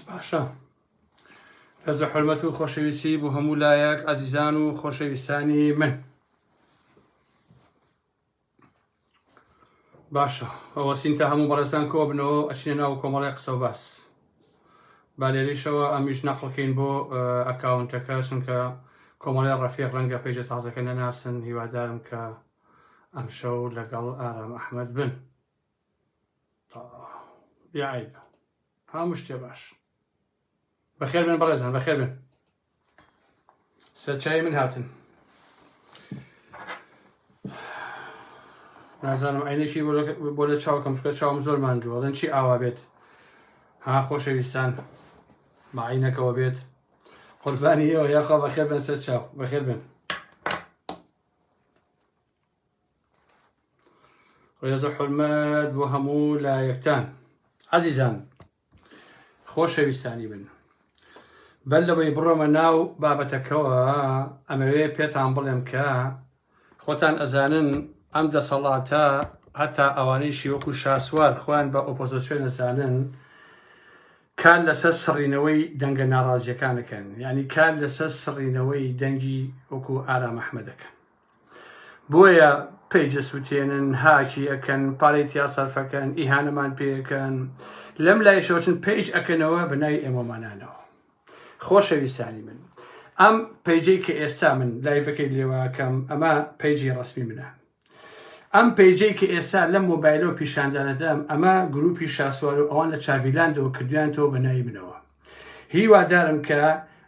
باشە ڕێزە حرمەت و خۆشەویستی بۆ هەموو لایەک ئازیزان و خۆشەویستانی من باشە ئەوەسین تا هەموو بەڕێزان کۆ بنەوە ئەچینە ناو کۆمەڵی قسە و باس بالێریشەوە ئەمیش نەقلکەین بۆ ئەکاونتەکە چونکە کۆمەڵی ڕەفیق ڕەنگە پێجە تازەکە نەناسن هیوادارم کە ئەمشەو لەگەڵ ئارام ئەحمەد بن تا بیعیب هەموو شتێ باش بەخێر بن بەڕێزان بەخێر بن سەرچای من هاتن نازانم عینێکی بۆ لە چاوکەم چکە چاوم زۆر ماندووە دەن چی ئاوا بێت ها خۆشەویستان ماعینەکەەوە بێت قوربانی ئەوە یاخوا بەخێر بن سەر چاو بەخێر بن ڕێز و حرمەت بۆ هەموو لایەکتان عزیزان خۆشەویستانی من بەر لەوەی بڕۆمە ناو بابەتەکەەوە ئەمەوێ پێتان بڵێم کە خۆتان ئەزانن ئەم دەسەڵاتە هەتا ئەوانەی شیوەکو شاسوار خوان بە ئۆپۆزیسیۆن نەزانن کار لەسەر سڕینەوەی دەنگە ناڕازیەکان دەکەن یعنی کار لەسەر سڕینەوەی دەنگی وەکو ئارام ئەحمە دەکەن بۆیە پێجە سووتێنن هاکی ئەکەن پارەی تیا سەرفەکەن ئیهانەمان پێەکەن لەم لای شۆچن پێج ئەکەنەوە بە ناوی ئێمەمانانەوە خۆشەویستانی من ئەم پەیجەی کە ئێستا من لایڤەکەی لێواکەم ئەمە پەیجی ڕسمی منە ئەم پەیجەی کە ئێستا لەم مۆبایلەوە پیشاندانەدام ئەمە گروپی شاسوار و ئەوان لە چاڤیلاندەوە کردویانتەوە بە ناوی منەوە هیوادارم کە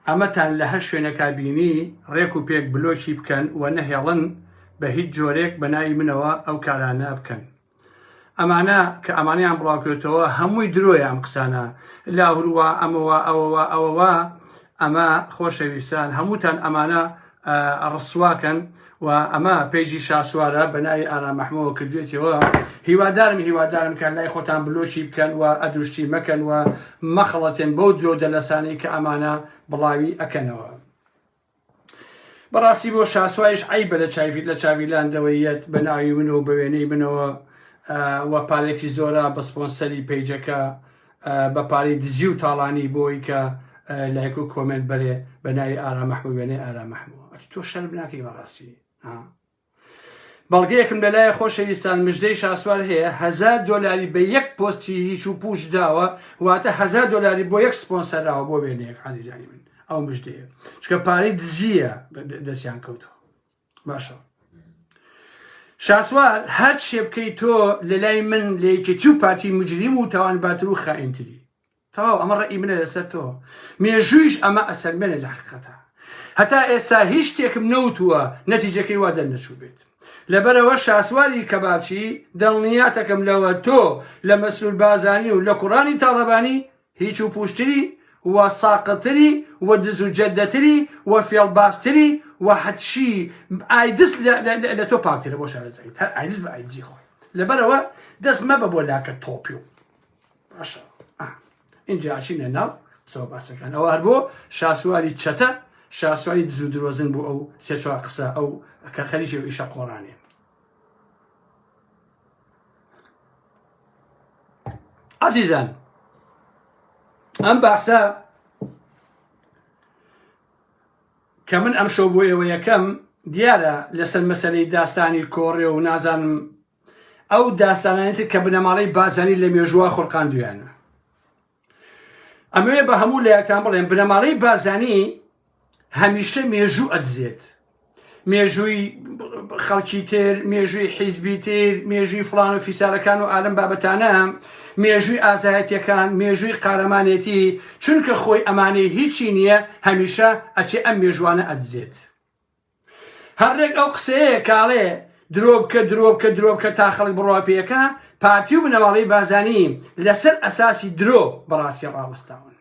ئەمەتان لە هەر شوێنەکا بینی ڕێک و پێک بلۆکی بکەن و نەهێڵن بە هیچ جۆرێک بە ناوی منەوە ئەو کارانە بکەن ئەمانە کە ئەمانەیان بڵاوکرێتەوە هەمووی درۆیە ئەم قسانە لاهوروا ئەمەوە ئەوەوە ئەوەوە ئەمە خۆشەویستان هەمووتان ئەمانە ڕسواکەن و ئەمە پێیجی شاسوارە بەناوی ئارامەحمەوە کردوێتەوە هیوادارم هیوادارم کە لای خۆتان بلۆکی بکەن و ئەدوشتی مەکەن و مەخڵەتێن بەو درۆ دەلەسانی کە ئەمانە بڵاوی ئەکەنەوە. بەڕاستی بۆ شاسوایش عیبە لە چاوی لە چاوی لاندەوەی یەت بە ناوی من و بە وێنەی منەوە و پارێکی زۆرە بە سپۆنسەری پەیجەکە بە پارەی دزی و تاڵانی بۆی کە لایک و کۆمێنت بەرێ بە ناوی ئارام مەحموو وێنەی ئارام مەحموو ئەتو تۆ شەرم ناکەی بەڕاستی ها بەڵگەیەکم لەلایە خۆشەویستان مژدەی شاسوار هەیە هزار دلاری بە یەک پۆستی هیچ و پوش داوە واتە هزار دلاری بۆ یەک سپۆنسەراوە بۆ وێنەیەک عزیزانی من ئەو مژدەیە چکە پارەی دزیە دەستیان کەوتەوە باشە شاسوار هەر شێبکەی تۆ لە لای من لە یەکێتی و پارتی مجریم و تاوان باتر و خائینتری تەواو ئەمە ڕەئی منە لەسەر تۆ مێژوویش ئەمە ئەسەلمێنێ لە حقیقەتە هەتا ئێستا هیچ شتێکم نەوتووە نەتیجەکەی وا دەرنەچوو بێت لەبەرەوە شاسواری کەبابچی دڵنیاتەکەم لەوە تۆ لە مەسرور بازانی و لە کوڕانی تاڵەبانی هیچ و پوشتری و ساقتری و دز و جەدەتری و فێڵبازتری و حەچی ئایدس لە تۆ پاکترە بۆ شارەزایی هەر ئایدس بە ئایدزی خۆی لەبەرەوە دەست مەبە بۆ لاکە تۆپی و باشە ئینجا ئاچینە ناو قسەوە باسەکان ئەوە هەر بۆ شاسواری چەتە شاسواری دزو درۆزن بوو ئەو سێچوار قسە ئەو کە خەریکی ئیشە قۆڕانێ عزیزان ئەم باسە کە من ئەم شەو بۆ ئێوە یەکەم دیارە لەسەر مەسلەی داستانی کۆڕێ و نازانم ئەو داستانانی تر کە بنەماڵەی بازانی لە مێژووا خورقاندویانە ئەمەوێ بە هەموو لایەکان بڵێن بنەماڵەی بازانی هەمیشە مێژوو ئەدزێت مێژووی خەڵکی تر مێژووی حیزبی تر مێژووی فلان و فیسارەکان و ئالم بابەتانە مێژووی ئازایەتەکان مێژووی قارەمانێتی چونکە خۆی ئەمانەی هیچی نییە هەمیشە ئەچێ ئەم مێژوانە ئەدزێت هەر رێک ئەو قسەیە کاڵێ درۆبکە درۆبکە درۆبکە تا خەڵک بڕوا پێەکە پارتی و بنەماڵەی بازانی لەسەر ئەساسی درۆ بەڕاستی ڕاوەستاون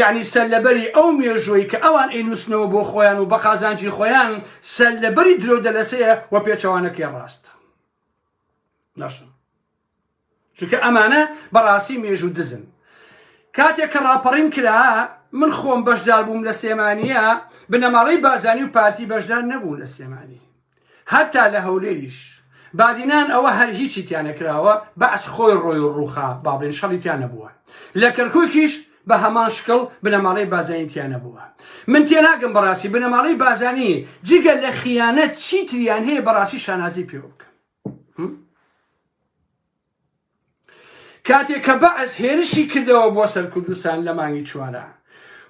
یعنی سەر لەبەری ئەو مێژووی کە ئەوان ئەینووسنەوە بۆ خۆیان و بە قازانجی خۆیان سەر لەبەری درۆ دەلەسەیە و پێچەوانەکەی ڕاستە نەشن چونکە ئەمانە بەڕاستی مێژوو دزن کاتێک کە ڕاپەڕین کرا من خۆم بەشدار بووم لە سێمانە بنەماڵەی بارزانی و پارتی بەشدار نەبوون لە سێمانی هەتا لە هەولێریش بادینان ئەوە هەر هیچی تیانەکراوە بەعس خۆی ڕۆی و ڕوخا باڵێن شەڵی تیان نەبووە لە کەرکووکیش بە هەمان شکڵ بنەماڵەی بازانی تیان نەبووە من تێناگەم بەڕاستی بنەماڵەی بازانی جگە لە خیانەت چیتریان هەیە بەڕاستی شانازی پێوە بکەم کاتێک کە بەعس هێرشی کردەوە بۆ سەر کوردستان لە مانگی چوارە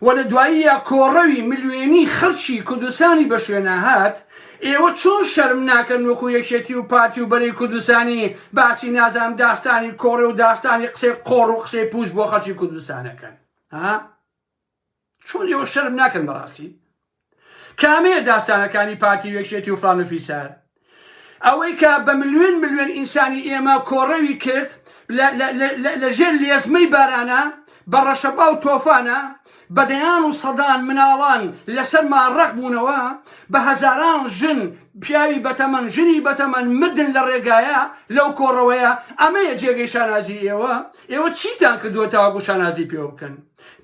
و لە دواییە کۆڕەوی ملیێنی خەڵکی کوردستانی بە شوێنە هات ئێوە چۆن شەرم ناکەن وەکو یەکێتی و پارتی و بەری کوردستانی باسی نازان داستانی کۆڕێ و داستانی قسەی قۆڕ و قسەی پوش بۆ خەڵکی کوردستانەکەن ها چۆن ئێوە شەرم ناکەن بەڕاستی کامەیە داستانەکانی پارتی و یەکێتی و فلان و فیسار ئەوەی کە بە ملیۆن ملیۆن ئینسانی ئێمە کۆڕەوی کرد لە ژێر لێزمەی بارانە بە ڕەشەبا و تۆفانە بە دەیان و سەدان مناڵان لەسەر ماڕەق بوونەوە بە هەزاران ژن پیاوی بەتەمەن ژنی بەتەمەن مردن لە ڕێگایە لەو کۆڕەوەیە ئەمەیە جێگەی شانازی ئێوە ئێوە چیتان کردووە تاواگو شانازی پێوە بکەن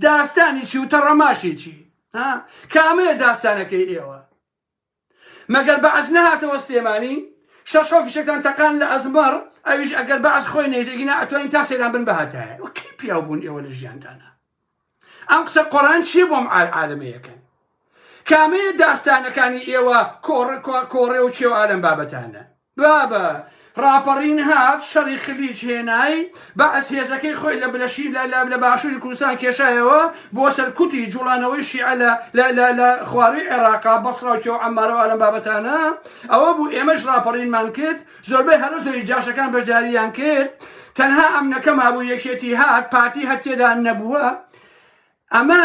داستانی چی و تەڕەماشی چی ها کامەیە داستانەکەی ئێوە مەگەر بەعس نەهاتەوە سلێمانی شەش حەو فیشەکان تەقان لە ئەزمەڕ ئەویش ئەگەر بەعس خۆی نێژێگینا ئەتوانین تا سەیران بن بەهاتایە و کەی پیاو بوون ئێوە لە ژیاندانا ئەم قسە قۆران چیە بۆم عالعالمەیەکەن کامەیە داستانەکانی ئێوە کۆڕ کۆڕێ و چێو ئالەم بابەتانە بابە ڕاپەڕین هات شەڕی خلیج هێنای بەعس هێزەکەی خۆی لە بلەشی لە لە لە باشووری کوردستان کێشایەوە بۆ سەرکوتی جوڵانەوەی شیعە لە لە لە لە خواروی عێراقا بەسڕا و کێو عەمارە و ئالەم بابەتانە ئەوە بوو ئێمەش ڕاپەڕینمان کرد زۆربەی هەرە زۆری جاشەکان بەشداریان کرد تەنها ئەمنەکە مابوو یەکێتی هات پارتی هەر تێدا نەبووە ئەمە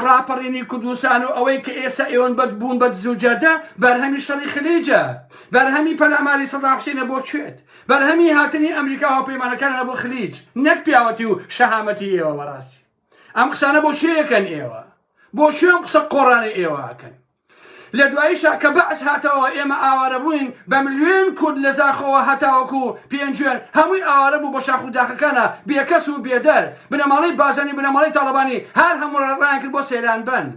ڕاپەڕینی کوردستان و ئەوەی کە ئێستا ئێوەن بەد بوون بە دزو جەردە بەرهەمی شەڕی خلێجە بەرهەمی پەلاماری سەدام حسینە بۆ کوێت بەرهەمی هاتنی ئەمریکا هاوپەیمانەکانە بۆ خلیج نەک پیاوەتی و شەهامەتی ئێوە بەڕاستی ئەم قسانە بۆ شێیەکەن ئێوە بۆ شوێن قسە قۆڕانە ئێوەکەن لە دواییشا کە بەعس هاتەوە ئێمە ئاوارە بووین بە ملیۆن کورد لە زاخۆوە هەتاوەکو پێنجوێن هەمووی ئاوارە بوو بە شاخ و داخەکانا بێکەس و بێدەر بنەماڵەی بازانی بنەماڵەی تاڵەبانی هار هەموو رایان کرد بۆ سەیران بەن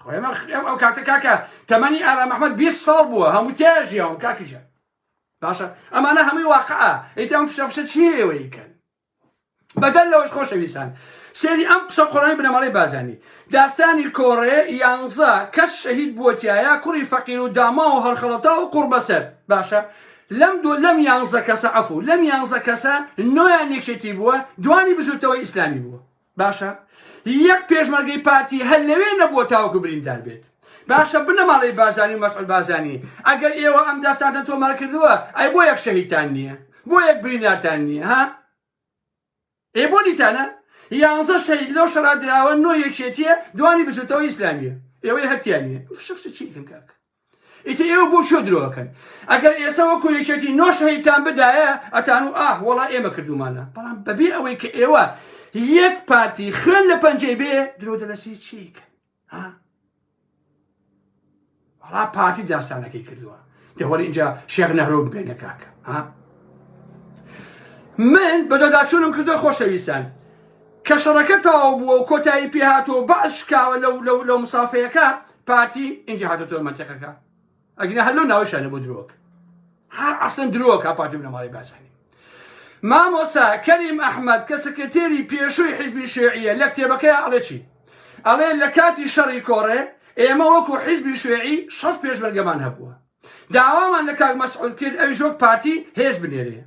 خۆ ئێمە ئێمە ئەو کاتە کاکە تەمەنی ئارام ئەحمەد 20 ساڵ بووە هەموو تیا ژیاوم کاکی جان باشە ئەمانە هەمووی واقعە ئیتر ئەم فشە فشە چیە ئێوەی کەن بەدەر لەوەش خۆشەویستان سێری ئەم قسە قڕانی بنەماڵەی بازانی داستانی کۆڕێ یانزە کەس شەهید بووەتیایە کوڕی فەقیر و داما و هەڵخەڵەتا و قوڕ بەسەر باشە لەم دو لەم یانزە کەسە عەفو لەم یانزە کەسە نۆیان یەکێتی بووە دوانی بزوتەوەی ئیسلامی بووە باشە یەک پێشمەرگەی پارتی هەر لەوێ نەبووە تاوەکو بریندار بێت باشە بنەماڵەی بارزانی و مەسعود بارزانی ئەگەر ئێوە ئەم داستانتان تۆمار کردووە ئەی بۆ یەک شەهیدتان نییە بۆ یەک بریندارتان نییە ها ئێ بۆ دیتانە یانزە شەید لەو شەڕا دراوە نۆ یەکێتیە دوانی بزوتەوە ئیسلامیە ئێوەی هەتیانە فشفش چی کاک ئیتر ئێوە بۆ چۆ درۆەکەن ئەگەر ئێسە وەکو یەکێتی نۆ شەهیدتان بدایە ئەتان و ئاه وەڵا ئێمە کردومانە بەڵام بەبێ ئەوەی کە ئێوە یەک پارتی خوێن لە پەنجەی بێ درۆ دەلەسی چیکە ها وەڵا پارتی داستانەکەی کردووە دەوەر اینجا شێخ نەهرۆ ببێنە کاکە ها من بەدەداچوونم کردو خۆشەویستان کە شەڕەکە تەواو بووە و کۆتایی پێهاتەوە بەعش شکاوە لەو لەو لەو مسافەیەەکە پارتی ئینجا هاتۆتەوە مەنتەقەکە ئەگنا هەر لەو ناوشانە بۆ درۆک هەر ئەسن درۆکە پارتی بنەماڵی بازانی مامۆسا کەریم ئەحمد کە سکرتێری پێشووی حیزبی شێعیە لە کتێبەکەی ئەڵێ چی ئەڵێ لە کاتی شەڕی کۆڕێ ئێمە وەکو حیزبی شوێعی شەست پێشمەرگەمان هەبووە داوامان لە کاک مەسعود کرد ئەویش وەک پارتی هێز بنێرێ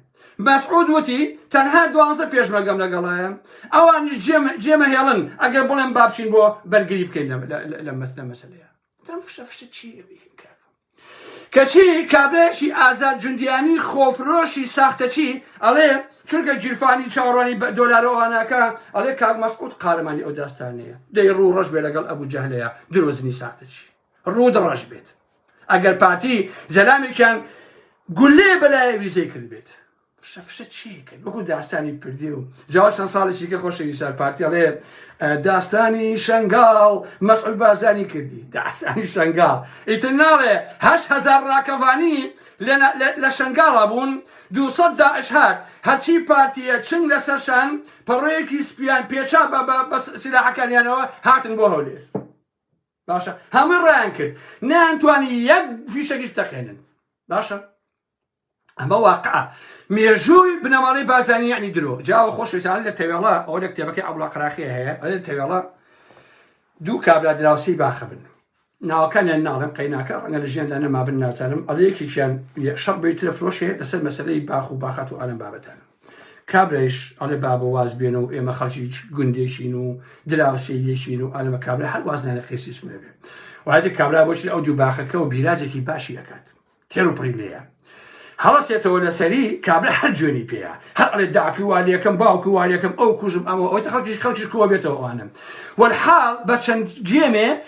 مەسعود وتی تەنها دوانزە پێشمەرگەم لەگەڵایە ئەوانیش جێمە هێڵن ئەگەر بڵێم بابچین بۆ بەرگری بکەین لە مەسنە مەسلەیە تەم فشە فشە چی کەچی کابرێکی ئازاد جوندیانی خۆفرۆشی ساختەچی ئەڵێ چونکە گیرفانی چاڕانی بە دۆلارەوانەکە ئەڵێ کاک مەسعود قارەمانی ئەو داستانەیە دەی ڕوو ڕەش بێ لەگەڵ ئەبوو جەهلەیە درۆزنی ساختەچی ڕوود ڕەش بێت ئەگەر پارتی زەلامێکیان گولێ بەلایە ویزەی کرد بێت فشە فشە چیکرد وەکو داستانی پردێ و جاوە چەند ساڵێکی کە خۆشەوی سار پارتیڵێ داستانی شنگال مەسعود بازانی کردی داستانی شنگال ئیتر ناڵێ هەش هزار ڕاکەڤانی لە شنگاڵا بوون دوسە داعش هات هەرچی پارتیە چنگ لەسەرشان پەڕۆیەکی سپیان پێچا بە بە سیلاحەکانیانەوە هاتن بۆ هەولێر باشە هەمووی ڕایان کرد نەیانتوانی یەک فیشەکیش تەقێنن باشە ئەمە واقع مێژووی بنەماڵی بازانانی یعنی درۆ جاوە خۆشویستان لە تەوێڵە ئەو لە کتێبەکەی ئەوڵا قراخی هەیە ئەلێن تەوێڵە دوو کابرا دراوسی باخە بن ناوەکانیان ناڵم قەیناکە ڕەنگە لە ژیاندا نەمابن نازانم ئەڵ یەکێکیان شەڕ بەی ترە فرۆشێ لەسەر مەسلەی باخ و باخات و ئالم بابەتانە کابرایش ئەڵێ بابە واز بێنە و ئێمە خەڵکی گوندێکین و دراوسێیەکین و ئەلمە کابرا هەر وازنانە قیسی سمێبێ وایە کابرا بۆش لە ئەو دوو باخەکە و بیراجێکی باشی ئەکات تێر و پڕی لێە هەڵەسێتەوە لەسەری کابرا هەر جوێنی پێەیە هەر ئەڵێ داکی والیەکەم باوکو والیەکەم ئەو کوژم ئەمە ئەوەی خەڵکیش خەڵکیش کووە بێتەوە ئەوانم وەحاڵ بە چەند گێمێ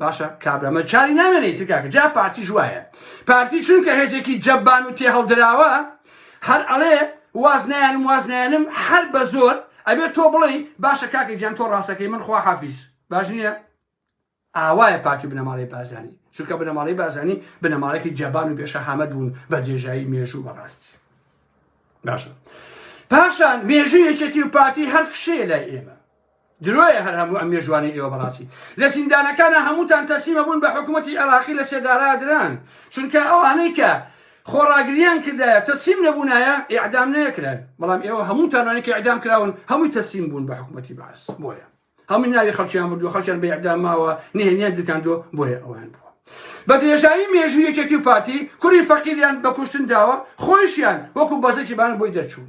باشە کابرامە چاری نامێنێ ئیتر کاکە جا پارتیش وایە پارتی چونکە هێزێکی جەبان و تێهەڵدراوە هەر ئەڵێ واز نایانم واز نایانم هەر بە زۆر ئەبێ تۆ بڵێ باشە کاکە گیان تۆ ڕاستەکەی من خوا حافیز باش نییە ئاوایە پارتی بنەماڵی بازانی چونکە بنەماڵی بازانی بنەماڵێکی جەبان و بێشەهامەت بوون بە درێژایی مێژوو بەڕاستی باشە پاشان مێژوو یەکێتی و پارتی هەر فشەیە لای ئێمە درۆیە هەر هەموو ئەم مێژوانەی ئێوە بەڕاستی لە زیندانەکانا هەمووتان تەسلیمە بوون بە حکوومەتی عێراقی لە سێدارا دران چونکە ئەوانەی کە خۆڕاگریان کردایە تەسلیم نەبوونایە ئیعدام نەکران بەڵام ئێوە هەموو تانوانی کە ئیعدام کراون هەمووی تەسلیم بوون بە حکوومەتی باس بۆیە هەمووی ناوی خەڵکیان بردو خەڵکیان بە ئیعدام ماوە نهێنیان درکاندۆ بۆیە ئەوان بوو بە درێژایی مێژوو یەکێتی و پارتی کوری فەقیریان بە کوشتن داوە خۆیشیان وەکو بەزەکی بان بۆی دەرچوون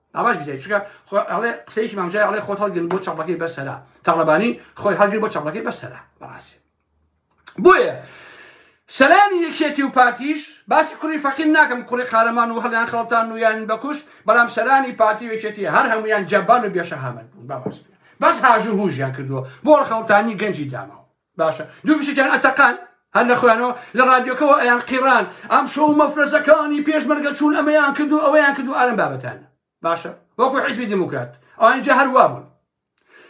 ئەمەش بزای چکە ئەڵێ قسەیەکی مامژای ئەڵێ خۆت هەڵگرن بۆ چاپەکەی بەسەرا تاڵەبانی خۆی هەڵگر بۆ چاپەکەی بەسەرا بەڕاستی بۆیە سەرانی یەکێتی و پارتیش باسی کوڕی فەقیم ناکەم کوڕی قارەمان و هەڵیان خەڵتان و یان بەکوشت بەڵام سەرانی پارتی وێکێتی هەر هەمویان جەبان و بێشەهامەت بوون بەڕاست بەس هاژو هوژیان کردووە بۆ خەڵتانی گەنجی داماوە باشە دوو فشکیان ئەتەقان هەر لە خۆیانەوە لە ڕادیۆکەەوە ئەیان قیڕان ئەم شەو مەفرەزەکانی پێشمەرگە چوون ئەمەیان کردو ئەوەیان کردو ئارم بابەتان باشە وەکو حیزبی دموکرات ئەوانجا هەروە بوون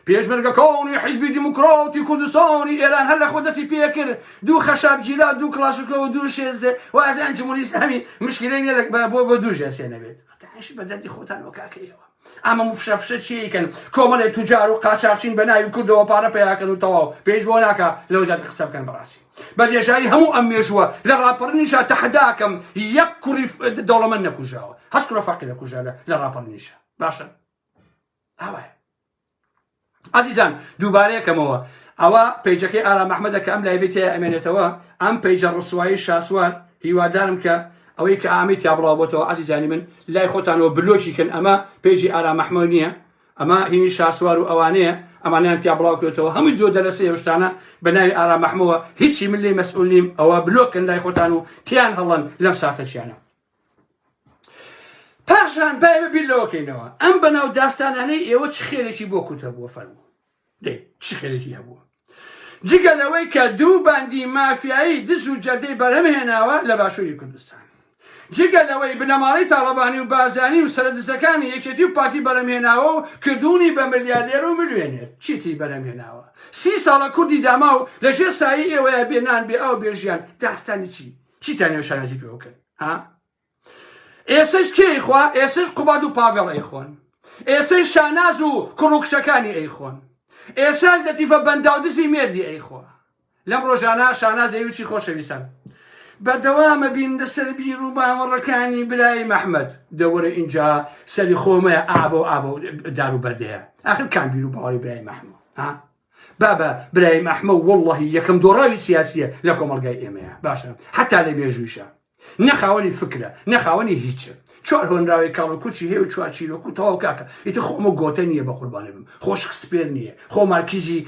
پێشمەرگەکانی حیزبی دیموکراتی کوردستانی ئێران هەر لە خۆ دەستی پێکرد دوو خەشابگیرا دوو کلاشکەوە دوو شێزێ وازیان جمهوری ئسلامی مشکلەی لە بۆ بۆ دوو ژێسێ نەبێت بەدەردی خۆتان وەکاکەیەوە ئەمە مفشە فشە چیەیکەن کۆمەڵێ توجار و قاچاخچین بە ناوی کوردەوە پارە پیاکەن و تەواو پێش بۆ ناکە لەو زیات قسە بکەن بەڕاستی بە درێژایی هەموو ئەم مێژووە لە ڕاپەڕنیشە تەحداکەم یەک کوڕی دەوڵەمەند نەکوژاوە هەست کوڕە فەقیرە کوژە لە ڕاپەڕنیشە باشە ئاوایە ئازیزان دووبارە یەکەمەوە ئەوە پەیجەکەی ئارام ئەحمەدە کە ئەم لایڤی تێ ئەمێنێتەوە ئەم پەیجە ڕسوایی شاسوار هیوادارم کە ئەوەی کە ئامی تیا بڵاو بۆتەوە ئازیزانی من لای خۆتانەوە بلۆکی کەن ئەمە پێجی ئارام ئەحمەد نییە ئەمە هینی شاسوار و ئەوانەیە ئەمانیان تیا بڵاوکرێتەوە هەمووی دو دەلەسە هێشتانە بە ناوی ئارا مەحمەوە هیچی من لی مەسئولیم ئەوە بلۆکن لای خۆتان و تیان هەڵەن لەم ساتەچیانە پاشان با ئێمە بیر لەوەکەینەوە ئەم بەناو داستانانەی ئێوە چ خێرێکی بۆ کورتە بووە فەرموو دەی چ خێرێکی هەبووە جگە لەوەی کە دوو باندی مافیایی دز و جەردەی بەرەم هێناوە لە باشووری کوردستان جگە لەوەی بنەماڵەی تاڵەبانی و بازانی و سەرە دزەکانی یەکێتی و پارتی بەرەمهێناوە و کردوونی بە ملیارێر و ملوێنێر چیتری بەرەمهێناوە سی ساڵە کوردی داماو لەژێر سایی ئێوەیە بێنان بێ ئاو بێژیان داستانی چی چیتان نێو شانازی پێوە بکەن ها ئێسش کێی خوا ئێسش قوباد و پاڤێڵ ئەیخۆن ئێسش شاناز و کوڕوکشەکانی ئەیخۆن ئێساش لە تیفە بەنداودزی مێردی ئەیخۆ لەم ڕۆژانە شاناز ئەیوچی خۆشەویستان بەردەوامە بین لەسەر بیر و باوەڕەکانی برای مححمد دەوەرە اینجا سەری خۆمەیە ئابە و ئابە دار و بەردەیە ئاخر کان بیر و باوەڕی برای مححمە ها بابە برایم ئەحمە و وەڵڵەهی یەکەم دۆڕاوی سیاسیە لە کۆمەلگای ئێمەیە باشە حتا لە بێژویشە نەخاوەنی فکرە نەخاوەنی هیچە چوار هۆنراوی کاڵ و کوچی هەیە و چوار چیرۆک و تەواو کاکە ئیتە خۆمە گۆتە نییە بە قوربانە بم خۆشک سپێر نییە خۆ مارکیزی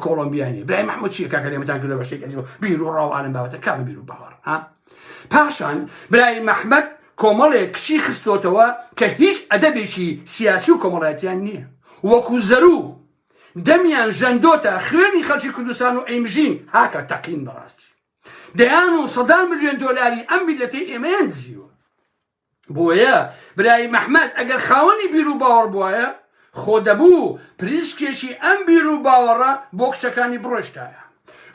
کۆڵمبیانی برای مححمود چیە کاکە لێمەتان کردە بە شتێک بیر و ڕاو عالم بابەتە کام بیر و باوەڕ ها پاشان برای مححمد کۆمەڵێک کچی خستۆتەوە کە هیچ ئەدەبێکی سیاسی و کۆمەڵایەتیان نییە وەکو زەرو دەمیان ژەندۆتە خوێنی خەڵکی کوردستان و ئەیمژین هاکا تەقین بەڕاستی دەیان و سەدان ملیۆن دۆلاری ئەم میلەتی ئێمەیان دزیوە بۆیە برای مححمد ئەگەر خاوەنی بیر و باوەڕ بواە خۆ دەبوو پریسکێکی ئەم بیر و باوەڕە بۆ کچەکانی بڕۆشتایە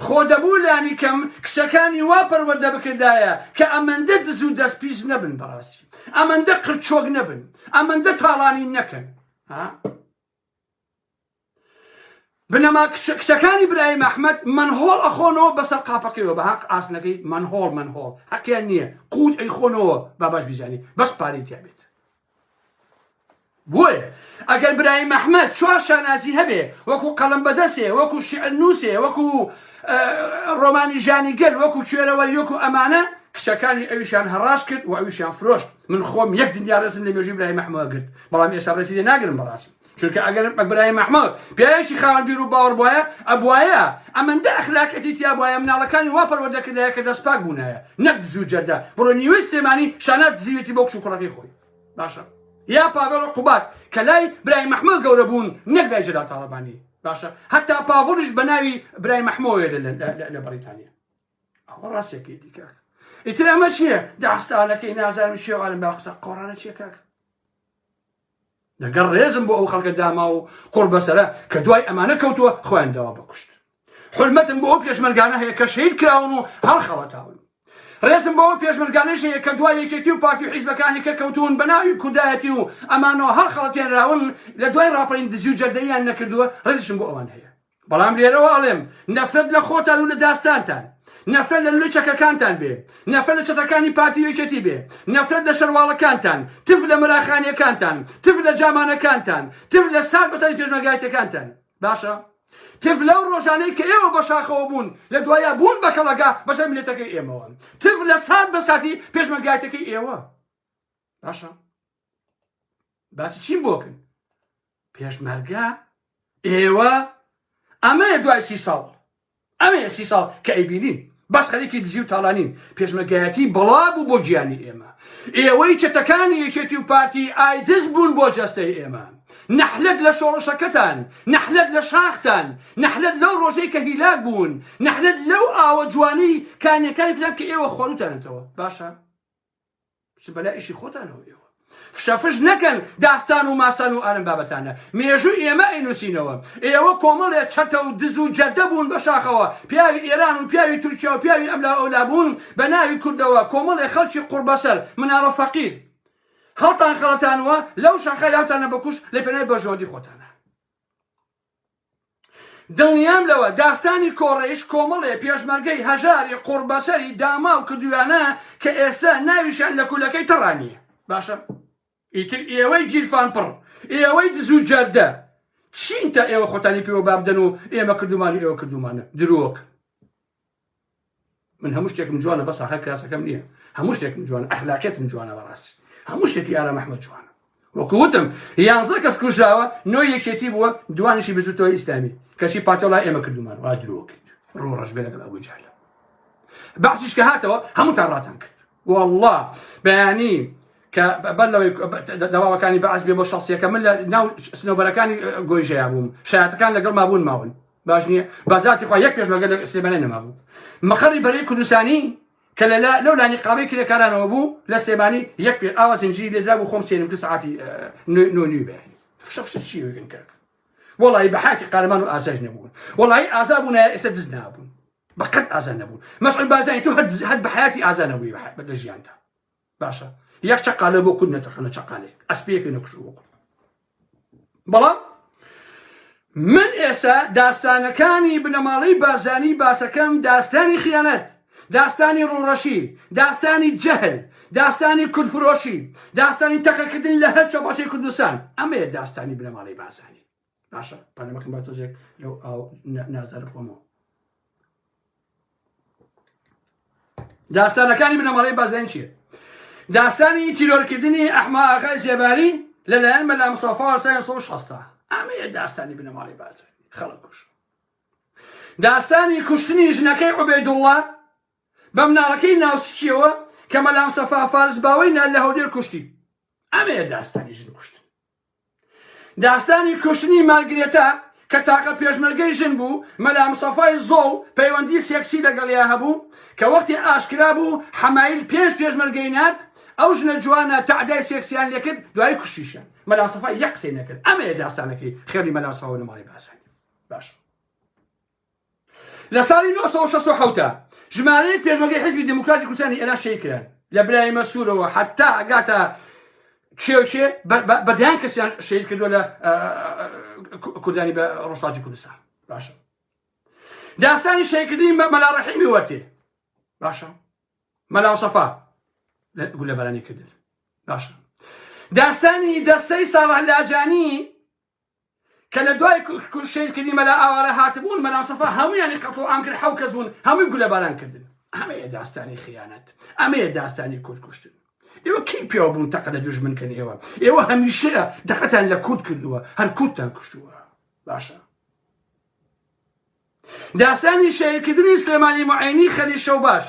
خۆ دەبوو لانی کەم کچەکانی وا پەروەەردە بکردایە کە ئەمەندە دز و دەست پیس نەبن بەڕاستی ئەمەندە قرچۆک نەبن ئەمەندە تاڵانی نەکەن ها بنەما کچە کچەکانی برایم ئەحمد منهۆڵ ئەخۆنەوە بەسەر قاپەکەیەوە بە هەق ئاسنەکەی منهۆڵ منهۆڵ حەقیان نییە قووت ئەی خۆنەوە باباش بیزانی بەس پارەی تیابێت بۆیە ئەگەر برایم ئەحمد چوار شانازی هەبێ وەکو قەڵم بەدەسێ وەکو شعر نووسێ وەکو ڕۆمانی ژانی گەل وەکو کوێرەوە یۆکو ئەمانە کچەکانی ئەویشان هەڕاش کرد و ئەویشان فرۆشت من خۆم یەک دنیا ڕێزم لە مێژووی برای مەحمەوە گرت بەڵام ئێستا ڕێزی لێ ناگرم بەڕاستی چونکە ئەگەر بە برای مەحمەد پیاوێکی خاوەن بیر و باوەڕ بواە ئەبواە ئەمەندە ئەخلاقەتی تیا بواە مناڵەکانی وا پەروەردە کردایە کە دەست پاک بوونایە نەک زوو جەردە بڕۆ نیوەی سلێمانی شانات زیوێتی بۆ کچ و کوڕەکەی خۆی باشە یا پاڤێڵ و قوبات کە لای برای مەحمەد گەورە بوون نەک لای جەلال تاڵەبانی باشە هەتا پاڤڵیش بە ناوی برای مەحمەوەێ لە بەریتانیا ئەوە ڕاستێکی دیکاک ئیتر ئەمە چییە داستانەکەی نازانم شێوانم با قسە قۆڕانە چیە کاک دەگەر ڕێزم بۆ ئەو خەڵکە داما و قڕ بەسرە کە دوای ئەمانە کەوتووە خۆیان داوا بکوشت حلمەتم بۆ ئەو پێشمەرگانە هەیە کە شەید کراون و هەڵ خەڵەتاون ڕێزم بەوە پێشمەرگانەش هەیە کە دوای یەکێتی و پارتی و حیزبەکانی کە کەوتون بە ناوی کوردایەتی و ئەمانەوە هەڵ خەڵەتێنراون لە دوای ڕاپەرین دزی و جەردەیان نەکردووە ڕێزشم بۆ ئەوان هەیە بەڵام لێرەوە ئەڵێم نەفرەت لە خۆتان و لە داستانتان نەفرەت لە لولەی چەکەکانتان بێ نەفرەت لە چەتەکانی پارتی یەکێتی بێ نەفرەت لە شەرواڵەکانتان تف لە مەراخانیەکانتان تف لە جامانەکانتان تف لە سار بەسەری پێشمەرگایەتەکانتان باشە تف لەو ڕۆژانەی کە ئێوە بە شاخەوە بوون لە دوایە بوون بە کەڵەگا بەسەر ملەتەکەی ئێمەوە تف لە سات بە ساتی پێشمەرگایەتەکەی ئێوە باشە باسی چیم بۆکن پێشمەرگە؟ ئێوە؟ ئەمەیە دوای سی ساڵ ئەمەیە سی ساڵ کە ئەیبینین بەس خەریکی دزی و تاڵانین پێشمەگایەتی بەڵا بوو بۆ گیانی ئێمە ئێوەی چەتەکانی یەکێتی و پارتی ئایدز بوون بۆ جەستەی ئێمە نەحلەت لە شۆڕشەکەتان نەحلەت لە شاختان نەحلەت لەو ڕۆژەی کە هیلاک بوون نەحلەت لەو ئاوە جوانی کانیەکانی کوتان کە ئێوە خۆنتانێتەوە باشە بچن بەلا ئیشی خۆتانەوە ئێوە فشەفش نەکەن داستان و ماسان و ئارم بابەتانە مێژوو ئێمە ئەینوسینەوە ئێوە کۆمەڵێ چەتە و دز و جەردە بوون بە شاخەوە پیاوی ئێران و پیاوی تورکیا و پیاوی ئەملا ئەولا بوون بە ناوی کوردەوە کۆمەڵێ خەڵکی قوڕبەسەر مناڵە فەقیر هەڵتان خەڵەتانوە لەو شاخە یاوتانە بەکوش لە پێنای بەرژەوەندی خۆتانە دڵنیام لەوە داستانی کۆڕەیش کۆمەڵێ پێشمەرگەی هەژاری قوڕبەسەری داماو کردویانە کە ئێستا ناویشیان لە کولەکەی تەڕا نیە باشە ئیتر ئێوەی گیرفان پڕ ئێوەی دزو جەردە چین تا ئێوە خۆتانی پێوە بابدەن و ئێمە کردومان و ئێوە کردومانە درۆک من هەموو شتێکم جوانە بەس هەر کراسەکەم نییە هەموو شتێکم جوان ئەخلاقێتم جوانە بەڕاستی هەموو شتێکی یارا محمد جوانە وەکوتم یانزە کەس کوژاوە نۆ یەکێتی بووە دوانشی بزوتەوە ئیسلامی کەچی پاتۆڵای ئێمە کردومان وا درۆکرد ڕۆ ڕژبێ لەگەڵ ئەبوو جالە بەعسیش کە هاتەوە هەمووتان ڕاتان کرد والله بەیانی کە بەر لەوەی دەواوەکانی بەعس بێ بۆ شخصیەکە من لە ناو سنەوبەرەکانی گۆیژەیە بووم شایەتەکان لەگەڵ مابوون ماون باش نییە بازاتی خوا یەک پێشمەگە لە سلێمانە نەما بوو مەقەری بەرەی کوردستانی کە لە لەو لانی قاوەی کرێکارانەوە بوو لە سێمانی یەک پێ ئاوا زنجی لێدرا بوو خۆم سێنم کە سعاتی نۆنی بێن فشەفش چی وگن کرد وڵی بە حاکی قارەمان و ئازاش نەبوون وڵی ئازا بوون ئێستا دز نابوون بەقەت ئازان نەبوون مەسعود بازانی تو هەر هەر بە حیاتی ئازانەبووی بە ژیانتە باشە یەک چەقالە بۆ کورد نەتەخەنە چەقالێک ئەسپێکی نەکوشە بۆ کورد بەڵام من ئێستا داستانەکانی بنەماڵەی بارزانی باسەکەم داستانی خیانەت داستانی ڕوڕەشی داستانی جەهل داستانی کورفرۆشی داستانی تەقەکردن لە هەر چەپاسی کوردستان ئەمەیە داستانی بنەماڵەی بارزانی باشە پەلە مەکەن با تۆزێک لەو ئاو نازدارە بخۆمەوە داستانەکانی بنەماڵەی بازین چیە داستانی تیرۆرکردنی ئەحما ئاخای زێباری لەلایەن مەلا مسافا سای سۆش هەستا ئەمەیە داستانی بنەماڵی بازن خەڵک کوش داستانی کوشتنی ژنەکەی عوبێدوڵڵا بە مناڵەکەی ناوسکیەوە کە مەلام سەفا فارس باوەی نال لە هەولێر کوشتی ئەمەیە داستانی ژن کوشتن داستانی کوشتنی مارگرێتا کە تاقە پێشمەرگەی ژن بوو مەلا مسەفای زۆڵ پەیوەندی سێکسی لەگەڵیا هەبوو کە وەختی ئاشکرا بوو حەمایل پێنج پێشمەرگەی نارد ئەو ژنە جوانە تەعدای سێکسیان لێکرد دوای کوشتیشیان مەلا سەفای یەک قسەی نەکرد ئەمەیە داستانەکەی خێری مەلا ساوە نەماڵی باسانی باش لە ساڵی 1960 ژمارەیەک پێشمەگەی حزبی دموکراتی کوردستانی ئێران شەی کران لە برای مەسوورەوە حتا ئەگاتە کێوکێ بەدیان کەسیان شەید کردو لە کوردانی بە ڕۆژاتی کوردستان باشە داستانی شەیکردنی مەلا ڕحیمی وەرتێ باشە مەلا سەفا گول لە بەرانی کردن باشە داستانی دەستەی ساڵح لاجانی کە لە دوای کوشت شەهید کردنی مەلا ئاوارە هاتبوون مەلا مستەفا هەموویانی قەتڵ عام کرد حەو کەس بوون هەمووی گولە باران کردن ئەمەیە داستانی خیانەت ئەمەیە داستانی کورد کوشتن ئێوە کی پێوە بوون تەقە لە دوژمن کەن ئێوە ئێوە هەمیشەیە دەقەتان لە کورد کردووە هەر کوردتان کوشتووە باشە داستانی شەهیدکردنی سلێمانی موعێنی خەلیل شەوباش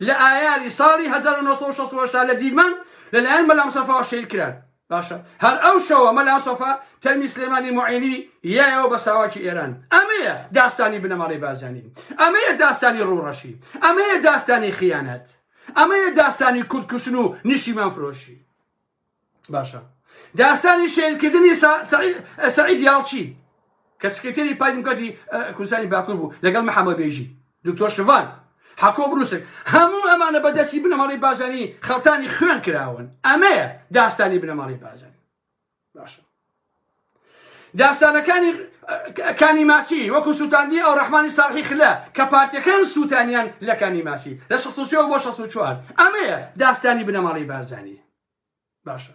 لە ئایاری ساڵی هەزار و نۆ سەد و شەست و هەشتا لە دیلمان لەلایەن مەلا مسەفاوە شەهید کران باشە هەر ئەو شەوە مەلا مسەفا تەرمی سلێمانی موعێنی یایەوە بە ساواکی ئێران ئەمەیە داستانی بنەماڵەی بازانی ئەمەیە داستانی ڕووڕەشی ئەمەیە داستانی خیانەت ئەمەیە داستانی کوردکوشتن و نیشیمان فرۆشی باشە داستانی شەیلکردنی سعید یاڵچی کە سکرتێری پای دیموکراتی کوردستانی باکوور بوو لەگەڵ محەممە بێژی دکتۆر شڤان حەکۆ بروسک هەموو ئەمانە بەدەستی بنەماڵی بازانی خەڵتانی خوێن کراون ئەمەیە داستانی بنەماڵی بازانی باشە داستانەکانی کانی ماسی وەکو سووتاندی ئەو ڕحمانی ساڵحی خلە کە پارتەکان سووتانیان لە کانی ماسی لە 16 بۆ 16 ئەمەیە داستانی بنەماڵی بارزانانی باشە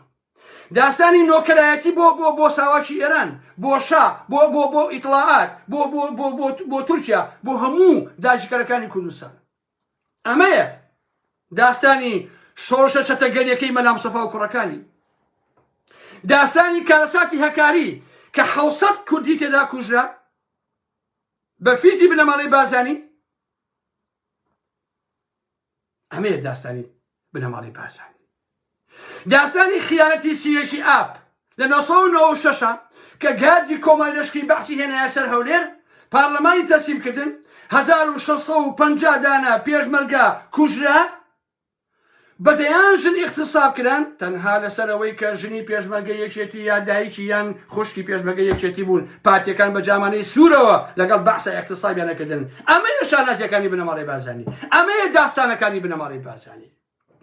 داستانی نۆکەرایەتی بۆ بۆ بۆ ساواکی ئێران بۆ شا بۆ بۆ بۆ ئیتلاعات بۆ بۆ بۆ بۆ تورکیا بۆ هەموو داژکەرەکانی کوردستان ئەمەیە داستانی شۆڕشە چەتەگەریەکەی مەلا مستەفا و کوڕەکانی داستانی کارەساتی هەکاری کە حوسەت کوردی تێدا کوژرا بە فیتی بنەماڵەی بازانی ئەمەیە داستانی بنەماڵەی بارزانی داستانی خیانەتی سیێژی ئاپ لە 1996 کە گاردی کۆماری لەشکری بەعسی هێنایە سەر هەولێر پارلەمانی تەسلیم کردن 1650 دانە پێشمەرگە کوژرا بەدەیان ژن اختصاب کران تەنها لەسەرەوەی کە ژنی پێشمەرگە یەکێتی یا دایکی یان خوشکی پێشمەگە یەکێتی بوون پارتەکان بە جامانەی سوورەوە لەگەڵ بەعسە اختصابیانەکردن ئەمەیە شانازیەکانی بنەماڵەی بارزانی ئەمەیە داستانەکانی بنەماڵەی بارزانی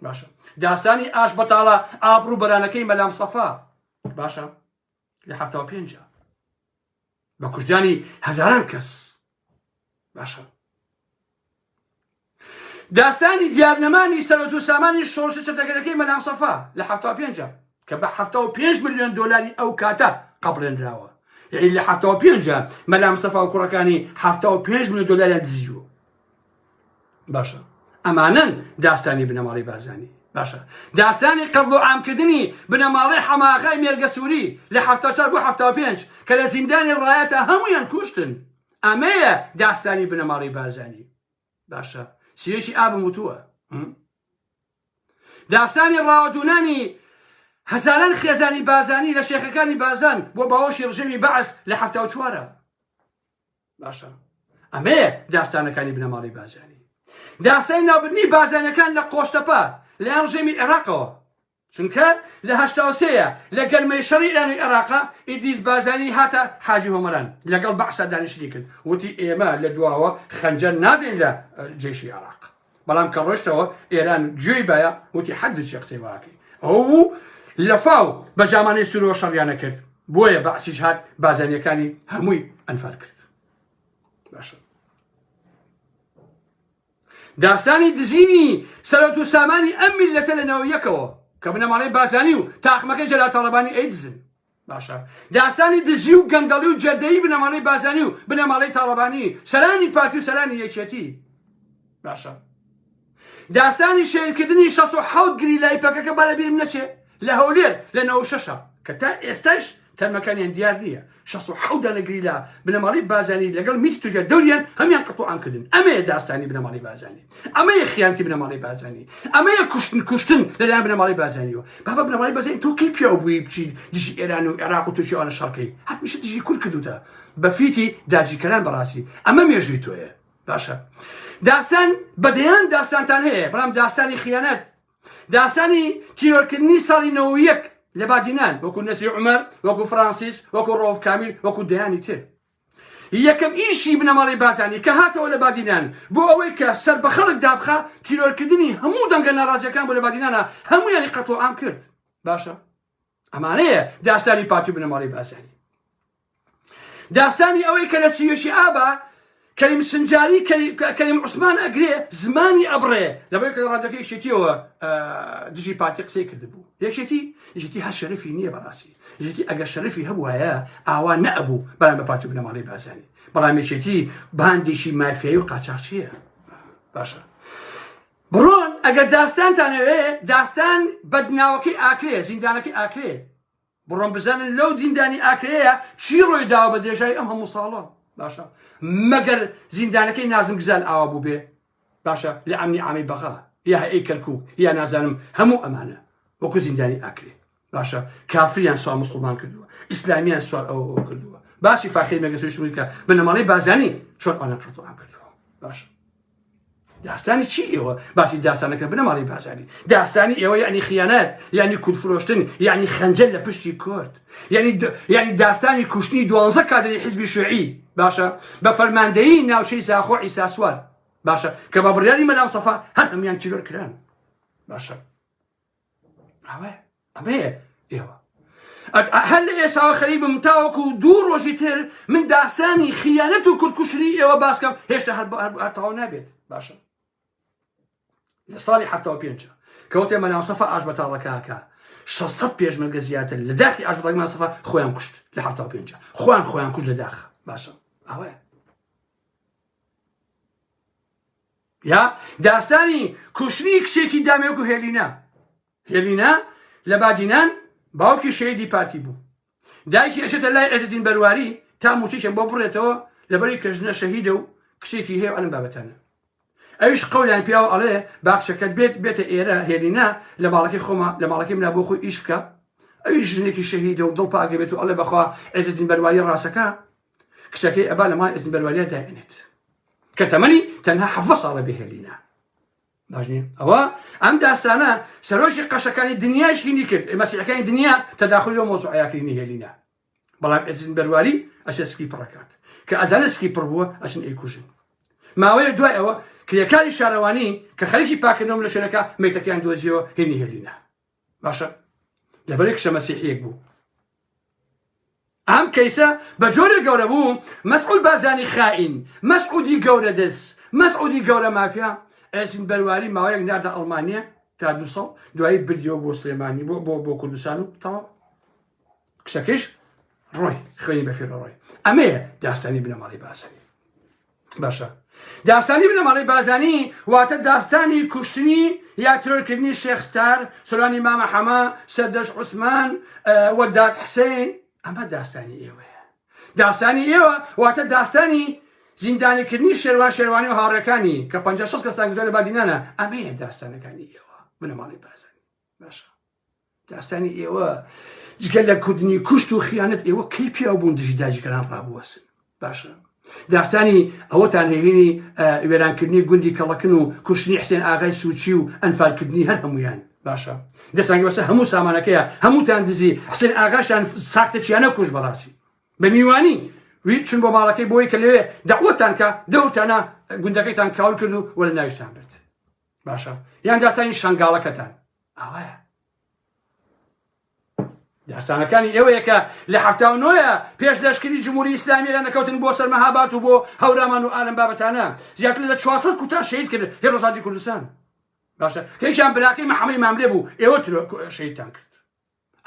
باشە داستانی ئاش بەتاڵە ئابڕوو بەرانەکەی مەلام سەفا باشە لە هەفتا پێنج بە کوژدانی هەزاران کەس باشە داستانی دیارنەمانی سەرۆت و سامانی شۆشە چەتەگەرەکەی مەلام سەفا لە هەفتا پێنج کە بە حەفتا و پێنج ملیۆن دۆلاری ئەو کاتە قبلێنراوە یعنی لە حەفتا و پێنجە مەلا مستەفا و کوڕەکانی حەفتا و پێنج ملیۆن دۆلاریان دزیوە باشە ئەمانن داستانی بنەماڵی بارزانی باشە داستانی قبل و عامکردنی بنەماڵی حەماغای مێرگە سووری لە حەفتا چار بۆ حەفتا و پێنج کە لە زیندانی ڕایەتە هەمویان کوشتن ئەمەیە داستانی بنەماڵی بارزانی باشە سوێکی ئابم وتووە داستانی ڕاوەدونانی هەزاران خێزانی بازانی لە شێخەکانی بازان بۆ باوەشی ڕژەمی بەعس لە هەفتا و چوارە باشە ئەمەیە داستانەکانی بنەماڵی بازانی داستانی ناوبنی بازانەکان لە قۆشتەپە لە ڕژێمی عێراقەوە چونکە لە هەشتا و سێ ە لە گەرمەی شەڕی ئێران و ئێراقا ئیدریس بارزانی هاتە حاجی هۆمەران لەگەڵ بەعسا دانیشتنی کرد وتی ئێمە لە دواوە خەنجەر نادەین لە جەیشی ئێراق بەڵام کە ڕۆشتەوە ئێران گوێی بایە وتی حەدی چێ قسەی واکەی ئەو بوو لەفاو بە جامانەی سورۆ شەڕیانە کرد بۆیە بەعسیش هات بازانیەکانی هەمووی ئەنفال کرد باشە داستانی دزینی سەرەوت و سامانی ئەم میللەتە لە ناو یەکەوە کە بنەماڵەی بارزانی و تاقمەکەی جەلال تاڵەبانی ئەیدزن باشە داستانی دزی و گەندەڵی و جەردەیی بنەماڵەی بازانی و بنەماڵەی تاڵەبانی سەرانی پارتی و سەرانی یەکێتی باشە داستانی شەیرکردنی 16 گری لای پەکەکە بە لەبیرم نەچێ لە هەولێر لە نەوە شەشە کە تا ئێستاش تەرمەکانیان دیار نییە شەست و حەوت دانە گریلا بنەماڵەی بازانی لەگەڵ میتی تورکیا دەوریان هەمیان قەتوعام کردن ئەمەیە داستانی بنەماڵەی بازانی ئەمەیە خیانەتی بنەماڵەی بازانی ئەمەیە کوشتن کوشتن لەلایەن بنەماڵەی بازانیەوە بابا بنەماڵەی بازانی تۆ کەی پیاو بووی بچیت دژی ئێران و عێراق و تورکیاوانە شەڕکەی هەتمیشە دژی کورد کردوتە بە فیتی داجیکەران بەڕاستی ئەمە مێژووی تۆیە باشە داستان بەدەیان داستانتان هەیە بەڵام داستانی خیانەت داستانی تیرۆرکردنی ساڵی نەوەو یەک لە بادینان وەکو نەسی عمر وەکو فرانسیس وەکو ڕۆف کامیل وەکو دەیانی تر یەکەم ئیشی بنەماڵەی بازانی کە هاتەوە لە بادینان بۆ ئەوەی کە سەر بە خەڵک دابخە تیرۆرکردنی هەموو دەنگە ناڕازیەکان بۆ لە بادینانە هەمویانی قەتڵ عام کرد باشە ئەمانەیە داستانی پارتی بنەماڵی بازانی داستانی ئەوەی کە لە سیوێکی ئابا کەریم سنجاری کەریم عوسمان ئەگرێ زمانی ئەبڕێ لەبەر کە ڕادەکە یەکێتیەوە دژی پارتی قسەی کردبوو یەکێتی یەکێتی هەر شەرفی نییە بەڕاستی یەکێتی ئەگەر شەرفی هەبووایە ئاوا نەبوو بەرام بە پارتی بنەماڵی بازانی بەڵام یەکێتی باندێکی مافیایی و قاچاقچیە باشە بڕۆن ئەگەر داستانتان ئەوێ داستان بەد ناوەکەی ئاکرێ زیندانەکەی ئاکرێ بڕۆن بزانن لەو زیندانی ئاکرەیە چی ڕۆی داوە بە درێژای ئەم هەموو ساڵە باشە مەگەر زیندانەکەی نازم گزال ئاوا بوو بێ باشە لە ئەمنی ئامی بەغا یا ئەی کەرکوو یا نازانم هەموو ئەمانە وەکو زیندانی ئاکرێ باشە کافریان سوار مسلمان کردووە ئیسلامیان سوار ئەو کردووە باسی فاخی مەگەسوشمکە بنەماڵی بازانی چۆن ئەوان قەتڵان کردووە باش داستانی چی ئێوە باسی داستانەکە بنەماڵی بازانی داستانی ئێوە یعنی خیانەت یعنی کورد فرۆشتن یعنی خەنجەل لە پشتی کورد یعنی یعنی داستانی کوشتنی دوانزە کادری حزبی شوعی باشە بە فەرماندەیی ناوچەی زاخۆ ئیساسوار باشە کە بە بڕیاری مەلام سەفا هەر هەمیان تیرۆر کران باشە ئەمەیە ئێوە هەر لە ئێساوە خەریبم تاوەکو دوو ڕۆژی تر من داستانی خیانەت و کوردکوشتنی ئێوە باسکەم هێشتا هەر هەرتاو نابێت باشە لە ساڵی حتاوە پێنج کەوتێ مەناوسەفە ئاش بەتاڵەکەکە 600 پێشمەرگە زیاتر لە داخی ئاش بەڵگمان سەفا خۆیان کوشت لە حتا پێ خۆیان خۆیان کوشت لە داخ باشە ئەوەیە یا داستانی کوشتنی کچێکی دامێک و هێلینا هێلینا لە بادینان باوکی شەیدی پارتی بوو دایکی ئەشێتە لای عێزدین بەرواری تا موچێکێک بۆ بڕێتەوە لەبەری کەژنە شەهیدە و کچێکی هەیە ئەلم بابەتانە ئەوش قەولیان پیاوە ئەڵێ باکچەکەت بێت بێتە ئێرە هێلینا لە ماڵەکەی خۆمە لە ماڵەکەی منا بۆ خۆی ئیش بکە ئەوی ژنێکی شەهیدە و دڵ پاگە بێت و ئەڵێ بەخوا عێزدین بەرواری ڕاستەکە کچەکەی ئەبا لە ماڵ ئێزین بەرواریا داێنێت کە تەمەنی تەنها حەڤە ساڵە بهێلینە باش نییە ئەوە ئەم داستانە سەرۆژی قەشەکانی دنیاش هینی کرد ئێمەسیەکانی دنیا تەداخلی و مۆزعیاکردنی هێلینە بەڵام ئەزین بەرواری ئەسێ سکی پڕەکات کە ئەزانە سکی پڕ بووە ئەسن ئەیکوژن ماوەیە دوای ئەوە کرێکاری شارەوانی کە خەریکی پاکردنەوە لە شوێنەکە میتەکەیان دۆزیەوە هێنی هێلینە باشە لەبەرێک شە مەسیحیەک بوو ئەم کەیسە بە جۆرە گەورە بوو مەسعود بارزانی خائین مەسعودی گەورە دەس مەسعودی گەورە مافیا ئەسین بەرواری ماوەیەک نادە ئەڵمانیا تا دو ساڵ دوایی بردیەوە بۆ سلێمانی بۆ بۆ بۆ کوردستان و تەواو کچەکەش ڕۆی خوێنی بەفێر ڕۆی ئەمەیە داستانی بنەماڵی باسەوی باشە داستانی بنەماڵی بازانی واتە داستانی کوشتنی یا ترۆرکردنی شێخستار سۆرانی مامە حەما سەردەش عوسمان وەداد حسین ئەمە داستانی ئێوەیە داستانی ئێوە واتە داستانی زیندانیکردنی شێوان شێوانی و هاڕەکانی کە 5 کەستان گوزارە بادینانە ئەمەیە داستانەکانی ئێوە بنەماڵی بازانی باشە داستانی ئێوە جگە لە کوردنی کوشت و خیانەت ئێوە کەی پیاو بوون دژی داجگەران ڕابوەسن باشە داستانی ئەوەتان هێنی وێرانکردنی گوندی کەڵەکن و کوشتنی حسێن ئاغای سوچی و ئەنفالکردنی هەر هەمویان باشە دەسان بەسە هەموو سامانەکەیە هەمووتان دزی حسێن ئاغاشان ساختە چیانە کوش بەڕاستی بە میوانی وی چون بۆ ماڵەکەی بۆی کە لەوێ داوەتان کە دەورتانە گوندەکەیتان کاول کرد و وەرە ناویشتان برد باشە یان داستانی شنگاڵەکەتان ئاوایە داستانەکانی ئێوەیە کە لە هەفتا و نۆە پێش لەشکری جمهوری ئسلامیرە نەکەوتن بۆ سەرمەهابات و بۆ هەورامان و ئالم بابەتانە زیاتر لە 400 کوتان شەید کرد هێ ڕژاتی کوردستان باشە کەیان براکەی محەمەی مامرێ بوو ئێوە شەیدتان کرد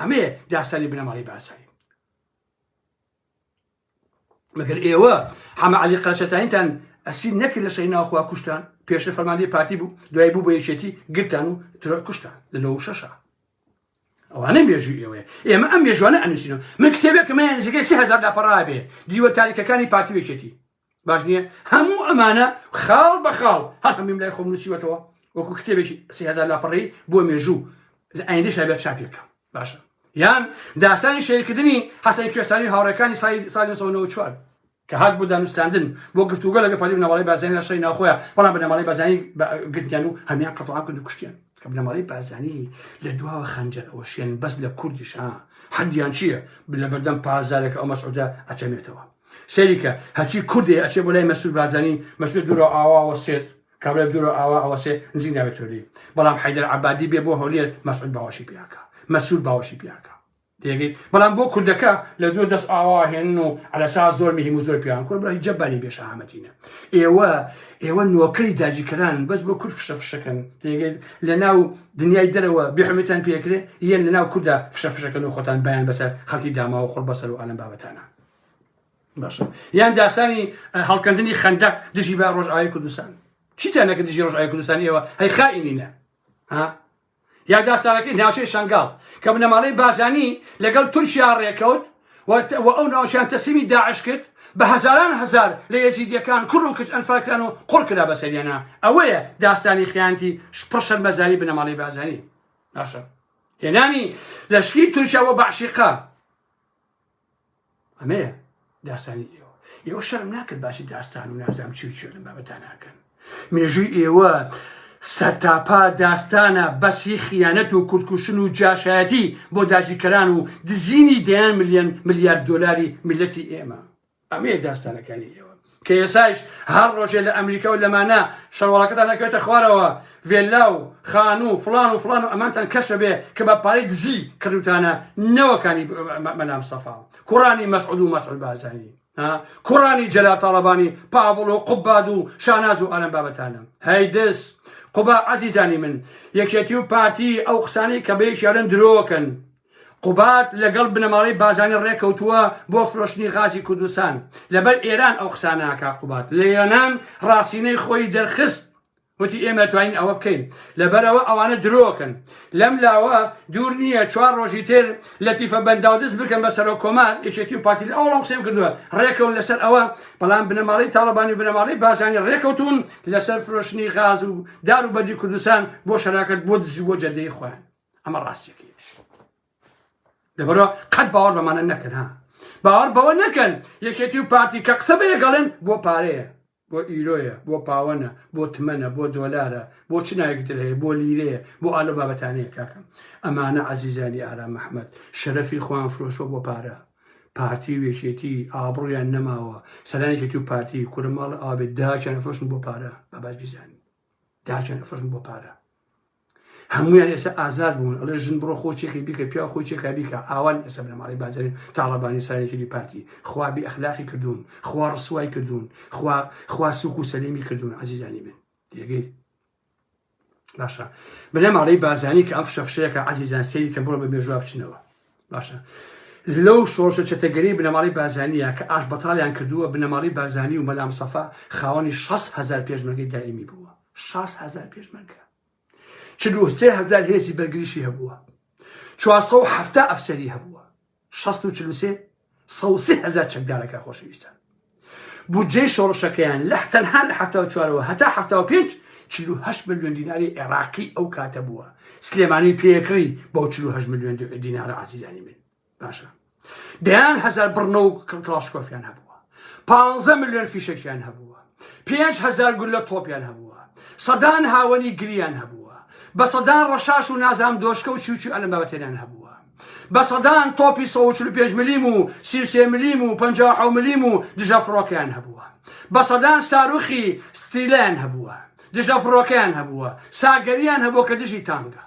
ئەمەیە داستانی بنەماڵەی بارزانی مەگەر ئێوە حەمە علی قەرەچەتانیتان ئەسیر نەکرد لە شەی ناوخوا کوشتان پێشە فەرماندی پارتی بوو دوای بوو بە یەکێتی گرتان و ترۆر کوشتان لە نەوە شەشە ئەوانە مێژوو ئێوەیە ئێمە ئەم مێژوانە ئەنووسینەوە من کتێبێکمە نزیکەی سهزار لاپەڕابێ دیوە تاریکەکانی پارتی وێکێتی باش نییە هەموو ئەمانە خاڵ بە خاڵ هەر هەمیم لای خۆم نووسیوەتەوە وەکو کتێبێکی سهزار لاپەڕی بۆ مێژوو لە ئایندە شابێت چاپێکە باشە یان داستانی شێرکردنی حەسەن کوێستانی هاوڕێکانی سای ساڵی 1994 کە هات بۆ دانوستاندن بۆ گفتوگە لەگە پەری بنەماڵی بازانی لە شەی ناخۆیان بەڵام بنەماڵی بازانی گرتیان و هەمیان قەتڵام کرد و کوشتیان کە بنەماڵی بازانی لە دواوە خەنجەر ئەوە شوێن بەس لە کوردیش ها حەدیان چییە لە بەردەم پازارێک ئەو مەسعودە ئەچەمێتەوە سەیریکە هەچی کوردێ ئەچێ بۆ لای مەسود بارزانانی مەسود دوورە ئاواوە سێت کابرا دوورە ئاوا ئەوە سێ نزیک ناوێت تۆلی بەڵام حیدر عبادی بێ بۆ هەولێر مەسعود باوەشی پیاکە مەسود باوەشی پیاکە تێگەیت بەڵام بۆ کوردەکە لە دوو دەست ئاوا هێن و ئەلەسا زۆر مهم و زۆر پیان کورد بەی جەبانی بێشەهامەتینە ئێوە ئێوە نۆکەری داجیکەران بەس بۆ کورد فشە فشەکەن تێگەیت لە ناو دنیای دەرەوە بحمێتان پێکرێ یەن لە ناو کووردا فشە فشەکەن و خۆتان بیان بەسەر خەڵکی داماوە خۆڵ بەسەر و ئالم بابەتانە باشە یان داسانی هەڵکەندنی خەندەق دژی بە ڕۆژئاوی کوردستان چیتان نەکە دژی ڕۆژئاوی کوردستان ئێوە هەی خائینینە یا داستانەکەی ناوچەی شنگال کە بنەماڵەی بازانی لەگەڵ تورکیا ڕێکەوت و ئەو ناوچیان تەسیمی داعش کرد بە هزاران هزار لە یەزیدیەکان کوڕ و کچ ئەنفالکران و قڕ کرا بە سەریانە ئەوەیە داستانی خیانتی پڕشەر مەزانی بنەماڵی بازانی باشە هێنانی لەشکی تورکیا بۆ بەعشیقا ئەمەیە داستانی ئێوە ئێوە شەرم ناکرد باسی داستان و نازام چی و چێ لەم بابەتا ناکەن مێژووی ئێوە سەرتاپا داستانە بەسی خیانەت و کوردکوشن و جاشایەتی بۆ داژیکەران و دزینی دەیان ملیۆن ملیارد دلاری میلەتی ئێمە ئەمەیە داستانەکانی ئێوە کە ئێسایش هەر ڕۆژێ لە ئەمریکا و لەمانە شەڕواڵەکەتان ئەکەوێتە خوارەوە ڤێللا و خانوو و فڵان و فڵان و ئەمانتان کەشە بێ کە بە پارەی دزی کردوتانە نەوەکانی مەلام سەفا کوڕانی مەسعود و مەسعود بازانی کوڕانی جەلا تاڵەبانی پاڤڵ و قوباد و شاناز و ئەلم بابەتانە هەی دەس قوبا عزیزانی من یەکێتی و پارتی ئەو قسانەی کە بەیەکیاولن درۆکەن قوباد لەگەڵ بنەماڵەی بازانی ڕێکەوتووە بۆ فرۆشتنی غازی کوردستان لەبەر ئێران ئەو قساناکە قوباد لە یۆنان ڕاستینەی خۆی دەرخست وتی ئێمە توانین ئەوە بکەین لەبەرەوە ئەوانە درۆکەن لەم لاوە دوور نییە چوار ڕۆژی تر لە تیفە بەنداو دەست بکەن بە سەرۆک کۆمار یەکێتی و پارتی لە ئەوڵام قسەم کردووە ڕێکەون لەسەر ئەوە بەڵام بنەماڵی تاڵەبانی و بنەماڵی بازانی ڕێکەوتون لەسەر فرۆشتنی غاز و دار و بەردی کوردستان بۆ شەراکەت بۆ دزی بۆ جەدەی خۆیان ئەمە ڕاستیەکەیش لەبەرە قەت باوەڕ بەمانە نەکەن ها باوەڕ بەوە نەکەن یەکێتی و پارتی کە قسە بە یەگەڵێن بۆ پارەیە بۆ ئیرۆیە بۆ پاوەنە بۆ تمەنە بۆ دۆلارە بۆ چ ناوێکتر هەیە بۆ لیرەیە بۆ ئالۆ بابەتانەیە کاکەم ئەمانە عزیزانی ئارام مححمد شەرەفی خوان فرۆشۆ بۆ پارە پارتی و یەکێتی ئابڕیان نەماوە سەرانێکێتی و پارتی کورە ماڵ ئاوێت داچیان فرۆشن بۆ پارە بابات بیزانین داچیان فرۆشن بۆ پارە هەمویان ئێستا ئازاد بوون ئەڵێ ژن بڕۆ خۆ چێکی بیکە پیا خۆی چێکا بیکە ئاوان ئێستا بنەماڵی بازرین تاڵەبانی ساێکی پارتی خوا بی ئەخلاقی کردوون خوا ڕسوای کردوون خوا خوا سوک و سەلیمی کردوون عزیزانی من تێگەی باشە بنەماڵی بازانی کە ئەم فشەفشەیەکە عزیزان سری کە بڕۆ بە مێژوا بچنەوە باشە لەو شۆشە چەتەگەری بنەماڵی بازانیە کە ئاش بەتالیان کردووە بنەماڵی بازانی و مەلام سەفا خاوەنی 6 هزار پێشمەگەی دائمی بووە شاست هەزار پێشمەرگە چل و سێ هەزار هێزی بەرگریشی هەبووە چوارسە و حەفتا ئەفسەری هەبووە شەست و چل و سێ سە و سێ هەزار چەکدارەکە خۆشەویستان بودجەی شۆڕشەکەیان لە تەنها لە حەفتا و چوارەوە هەتا حەفتا و پێنج چل و هەشت ملیۆن دیناری عێراقی ئەو کاتە بووە سلێمانی پێکڕی بەو چل و هەشت ملیۆن دینارە عزیزانی من باشە دەیان هەزار بڕنە و کڵاشکۆفیان هەبووە پ ملیۆن فیشەکیان هەبووە پێنج هزار گول لە تۆپیان هەبووە سەدان هاوەنی گریان هەبووە بە سەدان ڕەشاش و نازام دۆشکە و چوچو ئەلم بابەتێنان هەبووە بە سەدان تۆپی 145 ملیم و سیوسێ ملیم و 50 ملیم و دژە فڕۆکەیان هەبووە بە سەدان ساروخی ستیلیان هەبووە دژە فڕۆکەیان هەبووە ساگەریان هەبووە کە دژی تانگە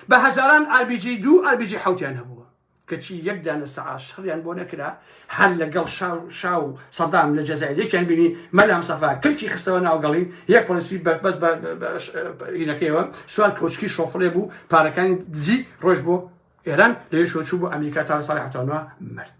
بە هەزاران ئاربیجی دوو ئاربیجی حوتیان هەبووە کەچی یەک دانە سەعا شەڕیان بۆ نەکرا هەر لەگەڵ شاو شاو سەدام لە جەزای یەکیان بینی مەلام سەفا کلکی خستەوە ناوگەڵی یەک پۆلیسی بەربەس بەینەکەیەوە سوار کۆچکی شۆفڵێ بوو پارەکانی دزی ڕۆژ بۆ ئێران لەوێ شۆچوو بۆ ئەمریکا تا ساڵی حتانوە مرد.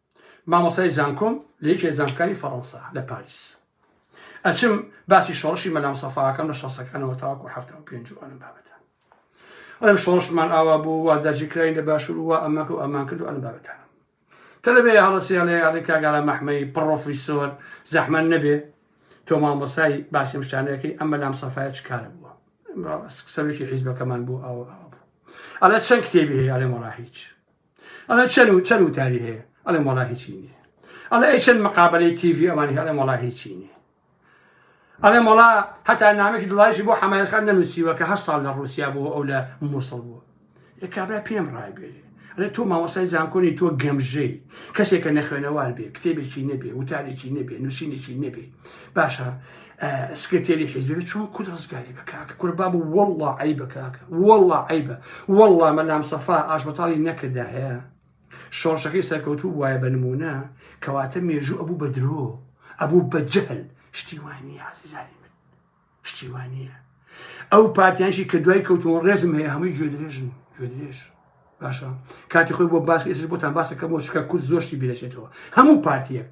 مامۆستای زانکۆم لە یەکێ لە زانکۆکانی فەڕەنسا لە پاریس ئەچم باسی شۆڕشی مەلام سەفاکەم لە شەسەکانەوە تاوەکو هەفتا و پێنج و ئەلم بابەتە ئەم شۆڕشمان ئاوا بوو وا دەرجی کراین لە باشور و ئەمەکە و ئەمان کرد و ئەلم بابەتە تەلەبێ هەڵەسیان لە یاڵی کاگارا مەحمەی پڕۆفیسۆر زەحمەن نەبێ تۆ مامۆسای باسی مشتانەکەی ئەمە لام سەفاە چکارە بووە سەرکی حیزبەکەمان بوو ئەوە ئەوە بوو ئەلە چەند کتێبی هەیە ئەلێ مەڕا هیچ ئەڵێ چەن و چەن وتاری هەیە ئەڵێم وەڵا هیچی نیە ئەڵێ ئەی چەند مقابلەی تیڤی ئەوانی هەڵێ وەڵا هیچی نیە ئەڵێ مەڵا هەتا نامێکی دڵایشی بۆ حەمایلخان نەنووسیوە کە هەر ساڵ لە ڕوسیا بوو ئەو لە مووسڵ بووە یە کابرا پێم ڕایبێری ئەێ تۆ ماوەسای زانکۆنی تۆ گەمژەی کەسێکە نەخوێنەوار بێ کتێبێکی نەبێ وتارێکی نەبێ نووسینێکی نەبێ باشە سکرتێری حیزبێ چۆن کورد ڕزگاری بە کاکە کورە باب و وەڵڵا عی بە کاکە وەڵڵا عیبە وەڵڵا مەلام سەفا ئاشبەتاڵی نەکردا هەیە شۆڕشەکەی سەرکەوتوو وایە بە نمونە کەواتە مێژوو ئەبوو بە درۆ ئەبوو بە جەهل شتیوانی عزیزانی من شتیوانیە ئەو پارتیانشی کە دوای کەوتون ڕێزم هەیە هەمووی گوێ درێژن گوێ درێژ باشە کاتی خۆی بۆ باس ئێسش بۆتان باسەکە بۆ شکە کورد زۆشتی بیرەچێتەوە هەموو پارتیەک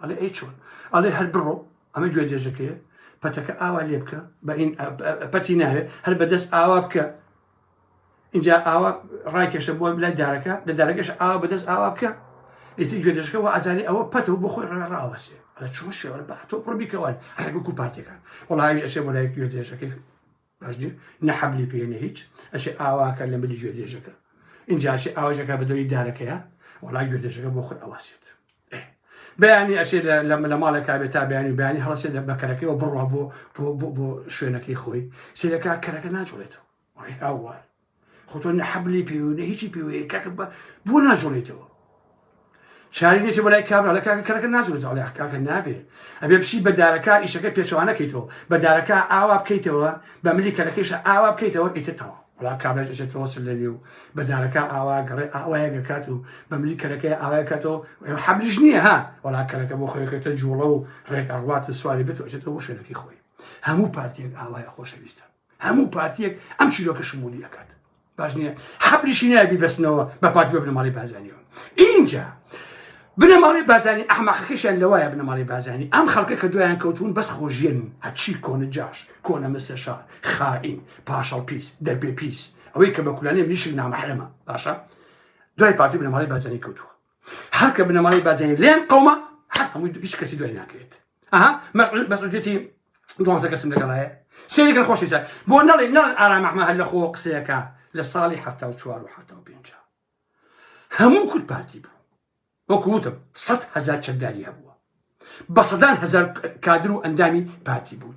ئەڵێ ئەی چۆن ئەڵێ هەر بڕۆ ئەمە گوێ دێژەکەیە پەتەکە ئاوا لێ بکە بە ئین پەتی ناوێ هەر بەدەست ئاوا بکە اینجا ئاوا ڕایکێشە بۆ لای دارەکە لە دارەکەش ئاوا بەدەست ئاوا بکە ئیتی گوێ دێژەکە و ئازانی ئەوە پەتە و بۆ خۆی ڕێ ڕاوەسێ ئەە چۆن شێوە بە تۆ پڕبیکەوە ڕێگە و پارتەکان وڵایش ئەشێ بۆ لای گوێ دێژەکەی باش نیە نە حەبلی پێیە نە هیچ ئەشێ ئاواکە لە ملی گوێ دێژەکە ئینجا ئەشێ ئاوەژەکە بە دەوری دارەکەیە وەڵا گوێ دێژەکە بۆ خۆی ئەواسێت ئێ. بەیانی ئەشێ لە لە لە ماڵێکا بێت تا بەیانی و بەیانی هەڵەسێت لە بەکەرەکەیەوە بڕوا بۆ بۆ بۆ بۆ شوێنەکەی خۆی سیرەکە کەرەکە ناجوڵێتەوە وای هاوار خۆ تۆ نە حەبلی پێ و نە هیچی پێ وەیە کاکە بە بۆ ناجوڵێتەوە چاری دێتە بەلای کابرا لە کاکە کەرەکە ناجوڵێت ئەڵێ کاکە نابێ ئەبێ بچی بە دارەکە ئیشەکە پێچوانەکەیتەوە بە دارەکە ئاوا بکەیتەوە بە ملی کەرەکەیش ئاوا بکەیتەوە ئیتر تەوا وڵا کابراش ئەچێتەوە سەر لە نێو بە دارەکە ئاوا گەڕێ ئاوایە گەکات و بە ملی کەرەکەی ئاوای کاتەوە حەبلیش نییە ها وڵا کەرەکە بۆ خۆیەکەتە جوڵە و ڕێک ئەڕوات و سواری بێت و ئەچێتەوە بۆ شوێنەکەی خۆی هەموو پارتێک ئاوایە خۆشەویستە هەموو پارتیەک ئەم چیرۆکە شمولی ئەکات باش نییە حەبریشی نایە بیبەستنەوە بە پارتی بە بنەماڵی بازانیەوە اینجا بنەماڵی بازانی ئەحمەقەکەشیان لەوایە بنەماڵی بازانی ئەم خەڵکە کە دویان کەوتون بەس خۆژیێن هەچی کۆنە جاش کۆنە مستەشار خائین پاشەڵ پیس دەرپێ پیس ئەوەی کە بە کولانێ منیشک نامەحرەمە باشە دوای پارتی بنەماڵی بازانی کەوتووە هەر کە بنەماڵەی باجانی لێن قەومە هەر هەمووی دوگیش کەسی دوای ناکرێت ئەها مەسعود مەسعودێتی دوازە کەسم لەگەڵایە سێریکە خۆشی سەر بۆ نەڵێ نەڵێن ئارام ئەحمە هەر لە خۆ قسەیەەکە لە ساڵی هەفتا و چوار و هەفتا و پێنج هەموو کورد پارتی بوو وەکوتم سە هزار چەکداری هەبووە بە سەدان هزار کادر و ئەندامی پارتی بوون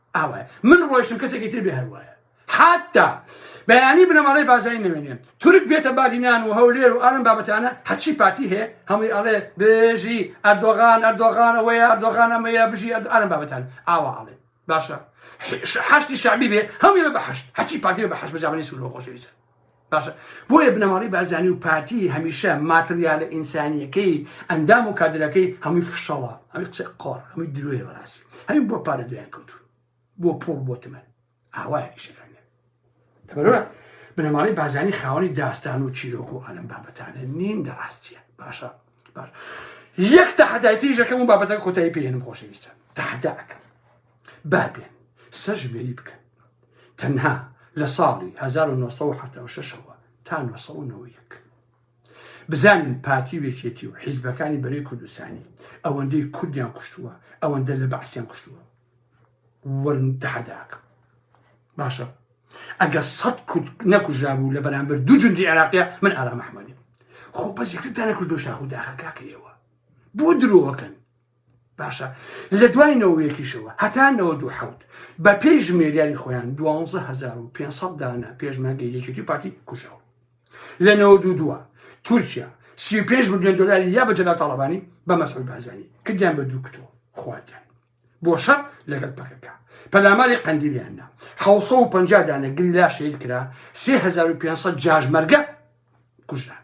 ئاوایە من ڕۆیشتم کەسێکی تر بێ هەروایە حتا بەیانی بنەماڵەی بازای نوێنێن تورک بێتە بادینان و هەولێر و ئارم بابەتانە هەچی پارتی هەیە هەمووی ئەڵێ بێژی ئەردۆغان ئەردۆغان ئەوەیە ئەردۆغان ئەمەیە بژی ئارم بابەتان ئاوا ئاڵێ باشە حشتی شعبی بێ هەمووی بە بەحشت هەچی پارتی بە بەحش بەجاانی سوور خۆشەویستە باشە بۆیە بنەماڵەی بارزانی و پارتی هەمیشە ماتریالە ئینسانیەکەی ئەندام و کادرەکەی هەمووی فشەڵە ئەمی قسە قۆڕ هەمووی درۆی بەڕاستی هەمین بۆ پارە دویان کەوت بۆ پۆڵ بۆ تمە ئاوایە ئیشەکانیان لەبەرە بنەماڵەی بازانی خاوەنی داستان و چیرۆک و ئەلم بابەتانە نین دە ڕاستیە باشە باش یەک تەحدایتی ژەکەم و بابەتە کۆتایی پێێنم خۆشەویستە تەحداکەم با بێن سەرژمێری بکەن تەنها لە ساڵی 1970 ەوە تا 1990 بزانین پارتی و یەکێتی و حیزبەکانی بەرەی کوردستانی ئەوەندەی کوردیان کوشتووە ئەوەندە لە بەعسیان کوشتووە وەرن تەحەداکە باشە ئەگە سەد کورد نەکوژابوو لە بەرامبەر دوو جندی عێراقیە من ئارامەحمەنی خۆ بەزیکردانە کردو شاخ و داخەکەکە ئێوە بۆ درۆەکەن باشە لە دوای نەوە یەکیشەوە هەتا نەوە دوو حەوت بە پێی ژمێریاری خۆیان دوانزە هزار و پێ سەد دانە پێشمەرگە یەکێتی پارتی کوژاوە لە نەوە دوو دووە تورکیا سی و پێنج ملیۆن دلاری یا بە جەلا تاڵەبانی بە مەسعود بارزانی کردیان بە دوو کتۆ خواردیان بۆ شەر لەگەڵ پەکەکە پەلاماری قەندیلیان نا حوسە و پەنجا دانە گریلا شەید کرا سێ هزار و پێ سەد جاژمەرگە کوژران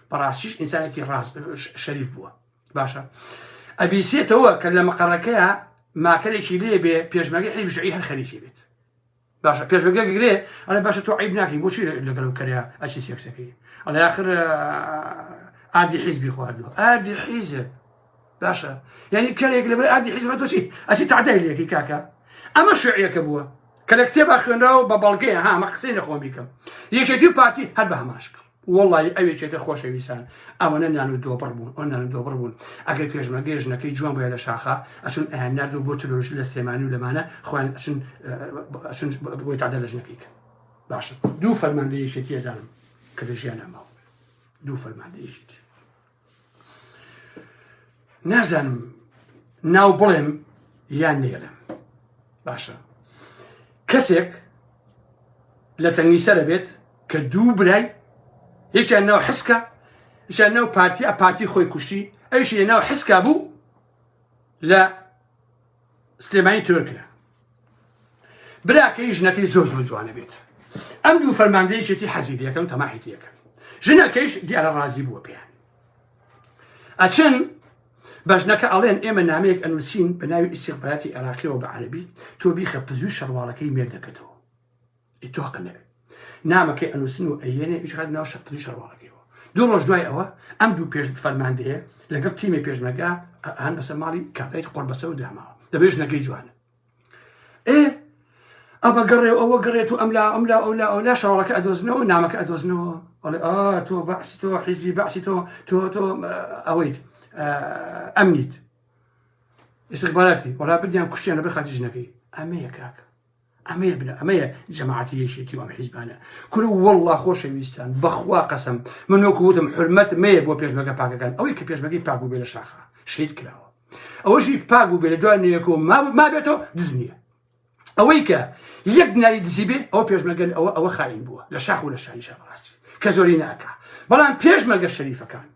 بەڕاستیش ئینسانێکی ڕاست شەریف بووە باشە ئەبیسێتەوە کە لە مەقەڕەکەیە ماکەرێکی لێ بێ پێشمەگە حیبشعی هەر خەریکی بێت باشە پێشمەگە گرێ ئەە باشە تۆ عیب ناکەی بۆچی لەگەڵ و کەرە ئەچی سێکسەکەی ئەڵێ آخر ئادی حیزبی خواردووە ئادی حیزب باشە یعنی کەرێک لەبەر ئادی حیزبە تۆچی ئەچی تعدای لەکەی کاکە ئەمە شعیەکە بووە کە لە کتێبا خوێنراوە بە بەڵگەیە هامە قسەی نەخۆم بیکەم یەکێتی پارتی هەر بە هەماشکە وڵی ئەوێکێتە خۆشەویستان ئەوەنە نان و دۆبڕ بوون ئەو نان و دۆبڕ بوون ئەگەر پێشمە گەێژنەکەی جوان بۆە لە شاخە ئەچون ئەیان نرد و بۆ ترۆژ لە سێمانی و لەمانە خوان ئەچون بۆی تادە لەژنەکەی کە باشە دوو فەرماندەیەکێتی ێزانم کە لە ژیان ناماوە دوو فەرماندەیەکێتی نازانم ناو بڵێم یان نێرم باشە کەسێک لە تەنگی سەرە بێت کە دوو برای یەکیان ناو حسکە یان ناو پارتی ئە پارتی خۆی کوشتی ئەوش لە ناو حسکا بوو لە سلێمانی ترۆر کرا براکەی ژنەکەی زۆر زۆر جوانە بێت ئەم دوو فەرماندەیەکێتی حەزی لەکەم تەماحیتی یەکەم ژنەکەیش دیارە ڕازی بووە پێیان ئەچن بەژنەکە ئەڵێن ئێمە نامەیەک ئەنووسین بە ناوی ئیسیقباتی عێراقیەوە بە عەربی تۆ بیخە پزوو شەڕواڵەکەی مێردەکەتەوە ئیتۆقە نەبێت نامەکەی ئەنووسن و ئەیێنێ ئیشخات ناو شەپتری شەڕواڵەکەیەوە دوو ڕۆژ دوای ئەوە ئەم دوو پێش فەرماندەیە لەگەڵ تیمی پێشمەگا هەن بەسەر ماڵی کابیت قڕ بەسەر و داماوە دەبێ ژنەکەی جوانە ئێ ئەمە گەڕێ ئەوە گەڕێت و ئەملا ئەملا ئەولا ئەولا شەڕەکە ئەدۆزنەوە نامەکە ئەدۆزنەوە ئەڵێ ئا تۆ بەعسی تۆ حیزبی بەعسی تۆ تۆ تۆ ئەوەیت ئەمنیت استخباراتی وەڵا بدیان کوشتیان لە بەر خاتی ژنەکەی ئەمەیە کاکە ئەمەیە بنە ئەمەیە جەماعەتی یەکێتی و ئەم حیزبانە کورە والله خۆشەویستان بەخوا قەسم من وەکو وتم حرمەت مەیە بۆ پێشمەگە پاکەکان ئەوەی کە پێشمەگەی پاک بوو بێ لە شاخە شەید کراوە ئەوەشی پاک بوو بێ لە دوای نوێکۆ ما ما بێتەوە دز نییە ئەوەی کە یەک ناری دزی بێ ئەو پێشمەگەل ئەوە ئەوە خاین بووە لە شاخ و لە شانیشە بەڕاستی کە زۆری ناکە بەڵام پێشمەگە شەریفەکان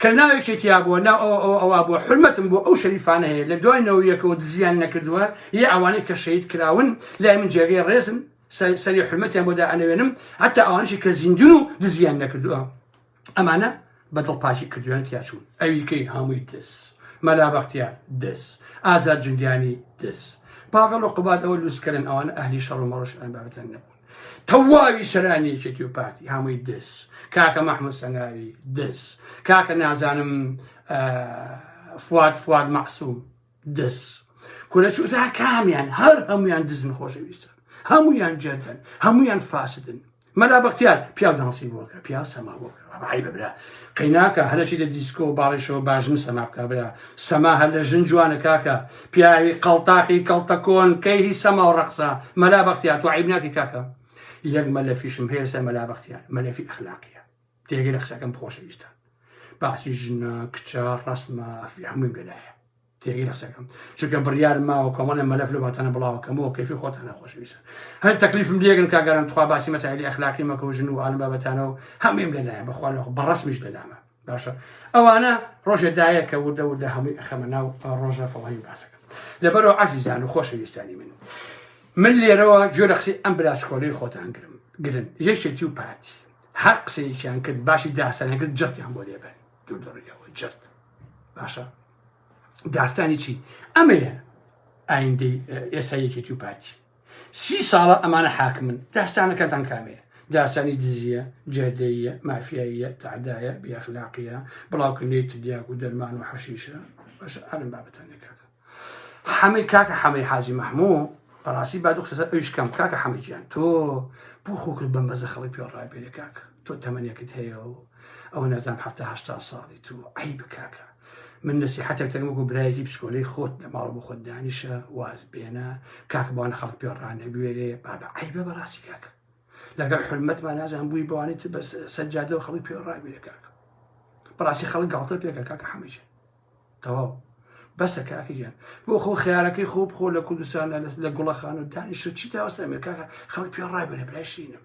کە ناوێکی تیا بووە ناو ئەوە ئەوە ئەوا بووە حرمەتم بۆ ئەو شەریفانە هەیە لە دوای نەوەیەکەوە دزیان نەکردووە یە ئەوانەی کە شەید کراون لای من جێگەی ڕێزن سەری حرمەتیان بۆ دائەنەوێنم هەتا ئەوانشی کە زیندون و دزیان نەکردووە ئەمانە بەدڵ پاچی کردویان تیاچوون ئەویکەی هەمووی دەس مەلا بەختیار دەس ئازاد جنگیانی دەس پاڤڵ و قوبادەوە لوسکەرن ئەوان ئەهلی شەڕ و مەڕش ئەن بابەتیان نەبوو تەواوی سەرانی یەکێتی و پارتی هەمووی دز کاکە مەحموود سەنگاوی دز کاکە نازانم فواد فواد مەعسووم دز کورە چوتا کامیان هەر هەمویان دزن خۆشەویستن هەمویان جەردن هەمویان فاسدن مەلا بەختیار پیاو دانسی بووەکە پیاو سەما بووەکە ئەمە عەیبە برا قەیناکە هەر ئەچیتە دیسکۆ و باڵێشەوە باش نیست ئەما بکە برا سەما هەر لە ژن جوانە کاکە پیاوی قەڵتاخی کەڵتەکۆن کەی هی سەما و ڕەقسە مەلا بەختیار تو عیب ناکی کاکە یەک مەلەفیشم هەیە سەر مەلا بەختیار مەلەفی ئەخلاقیە تێگەی لە قسەکەم خۆشەویستە باسی ژنە کچە ڕسمە ئەفری هەموویم لەلایە تێگەی قسەکەم چونکە بڕیار ماوە کۆمەڵێ مەلەف لە واتانە بڵاوەکەمەوە کەفی خۆتانە خۆشویستە هەر تەکلیفم لێگەن کاگەران تخوا باسی مەسایلی ئەخلاقی مەکە و ژن و ئالم بابەتانە و هەمیم لەلایە بەخوا لە بەڕسمیش لەلامە باشە ئەوانە ڕۆژێ دایە کە وردە وردە هەمووی ئەخەمە ناو ڕۆژە فڵاوی باسەکە لەبەرەوە عزیزان و خۆشەویستانی من من لێرەوە گوێ لە قسەی ئەم براشکۆلەی خۆتان گرم گرن یەکێتی و پارتی هەر قسەیەکیان کرد باشی داسەنەگرت جەتیان بۆ لێبن دوو دڕیەوە جەت باشە داستانی چی ئەمەیە ئایندەی ئێستا یەکێتی و پارتی سی ساڵە ئەمانە حاکمن داستانەکەتان کامەیە داستانی دزیە جێدەیە مافیاییە تعدایە بیاخلاقیە بڵاوکردنی تدیاک و دەرمان و حەشیشە بەش ئەرم بابەتانەکە حەمەی کاکە حەمەی حاجی مەحموو بەڕاستی با دخسەر ئەوش کەم کاکە حەمەجیان تۆ بۆ خۆکرد بەم بەزە خەڵک پێ ڕابێرە کاکە تۆ تەمەنێکت هەیە و ئەوە نەزان حتا هشتا ساڵی تو عیب کاکە من نسیحەتێک تەنگ وەکو برایەکی پسکۆلەی خۆت لە ماڵ بۆ خۆت دانیشە واز بێنە کاک بۆ لە خەڵک پێ ڕانەبوێرێ بابە عیبە بە ڕاستی کاک لەگەڵ حرمەتمان نازان بووی بەوانی تر بەس سەجادە و خەڵک پێ ڕاگوێرە کاک بەڕاستی خەڵک گاڵتە پێکە کاکە حەمەجە تەواو بەسە کاکیان بۆ خۆ خیارەکەی خۆ بخۆ لە کوردستان لە گوڵەخان و دانیشە چی داوەسە ئەمریکاکە خەڵک پێ ڕاگوێرە برایشینم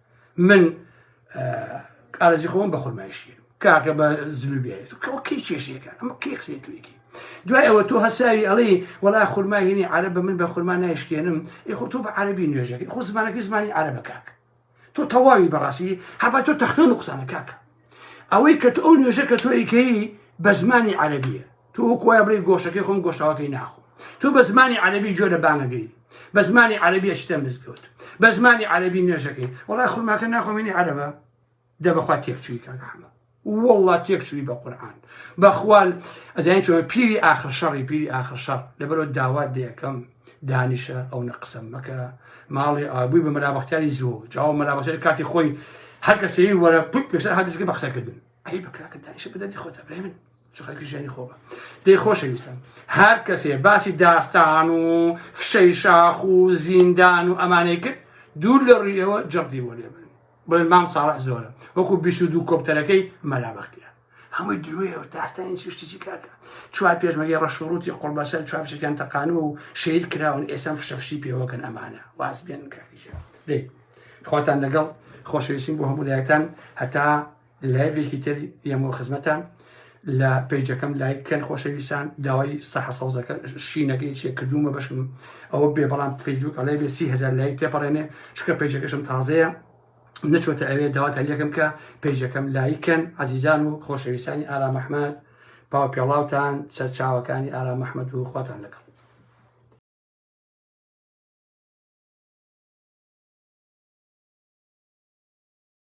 من ئارزی خۆم بە خورمای شیر کاکە بە زلوبێت کەی کێشێکە ئەمە کەی قسەی توێکی دوای ئەوە تۆ هەساوی ئەڵێ وەڵا خورمای هێنی عرە بە من بە خورما نایشکێنم ئی خۆ تۆ بە عربی نوێژەکەی خۆ زمانەکەی زمانی عرە بە کاک تۆ تەواوی بەڕاستی هەبا تۆ تەختێن و قسانە کاکە ئەوەی کە ئەو نوێژە کە تۆیکەی بە زمانی عەربیە تو وەکوایە بڵی گۆشەکەی خۆم گۆشتاوەکەی ناخۆ تو بە زمانی عەربی جۆرە بانەگەی بە زمانی عەربیە شتە مزگەوت بە زمانی عەربی نوێژەکەی وڵای خورماکە ناخۆمێنی عەربە دەبخوا تێکچووی کاگەحمە والله تێکچووی بە قورآان بەخوال ئەزیان چۆن پیری آخر شەڕی پیری آخر شەڕ لەبەرەوە داوات لەکەم دانیشە ئەونە قسەم مەکە ماڵی ئابووی بە مەلابختیاری زوو جاوە مەلابەشێت کاتی خۆی هەر کەسەی وەرە پوت پێشتر هاتیزگە بە قسەکردن ئەی بەکراکە دانیشە بدەتی خۆتە برای من خەرکی ژیانی خۆبە دەی خۆشەویستم هەر کەسێ باسی داستان و فشەی شاخ و زیندان و ئەمانەی کرد دوور لە ڕویەوە جەڕدی بۆ لێبن بڵێن مام ساڵح زۆرە وەکو بیست و دوو کۆپتەرەکەی مەلا بەختیار هەمووی درۆیەوە تاستان چی شتێکی کاکە چوار پێشمەگەی ڕەشوڕوتی قوڵبەسەر چوار فشەکان تەقانەوە و شەید کراون ئێسەم فشەفشی پێوەکەن ئەمانە واز بێن کاکیژە دەی خواتان لەگەڵ خۆشەویستیم بۆ هەموو لایەکتان هەتا لایڤێکی تر یەمەوە خزمەتان لە پەیجەکەم لایک کەن خۆشەویستان داوای سەحە سەوزەکە شینەکەی چێ کردومە بەشم ئەوە بێ بەڵام فەیسبوک ئەڵێ بێ سی هزار لایک تێپەڕێنێ چکە پەیجەکەشم تازەیە نەچۆتە ئەوێ داوات هەلیەکەم کە پەیجەکەم لایکەن عزیزان و خۆشەویستانی ئارام ئەحمد پاو پێڵاوتان سەرچاوەکانی ئارام مححمد و خواتان لەگەڵ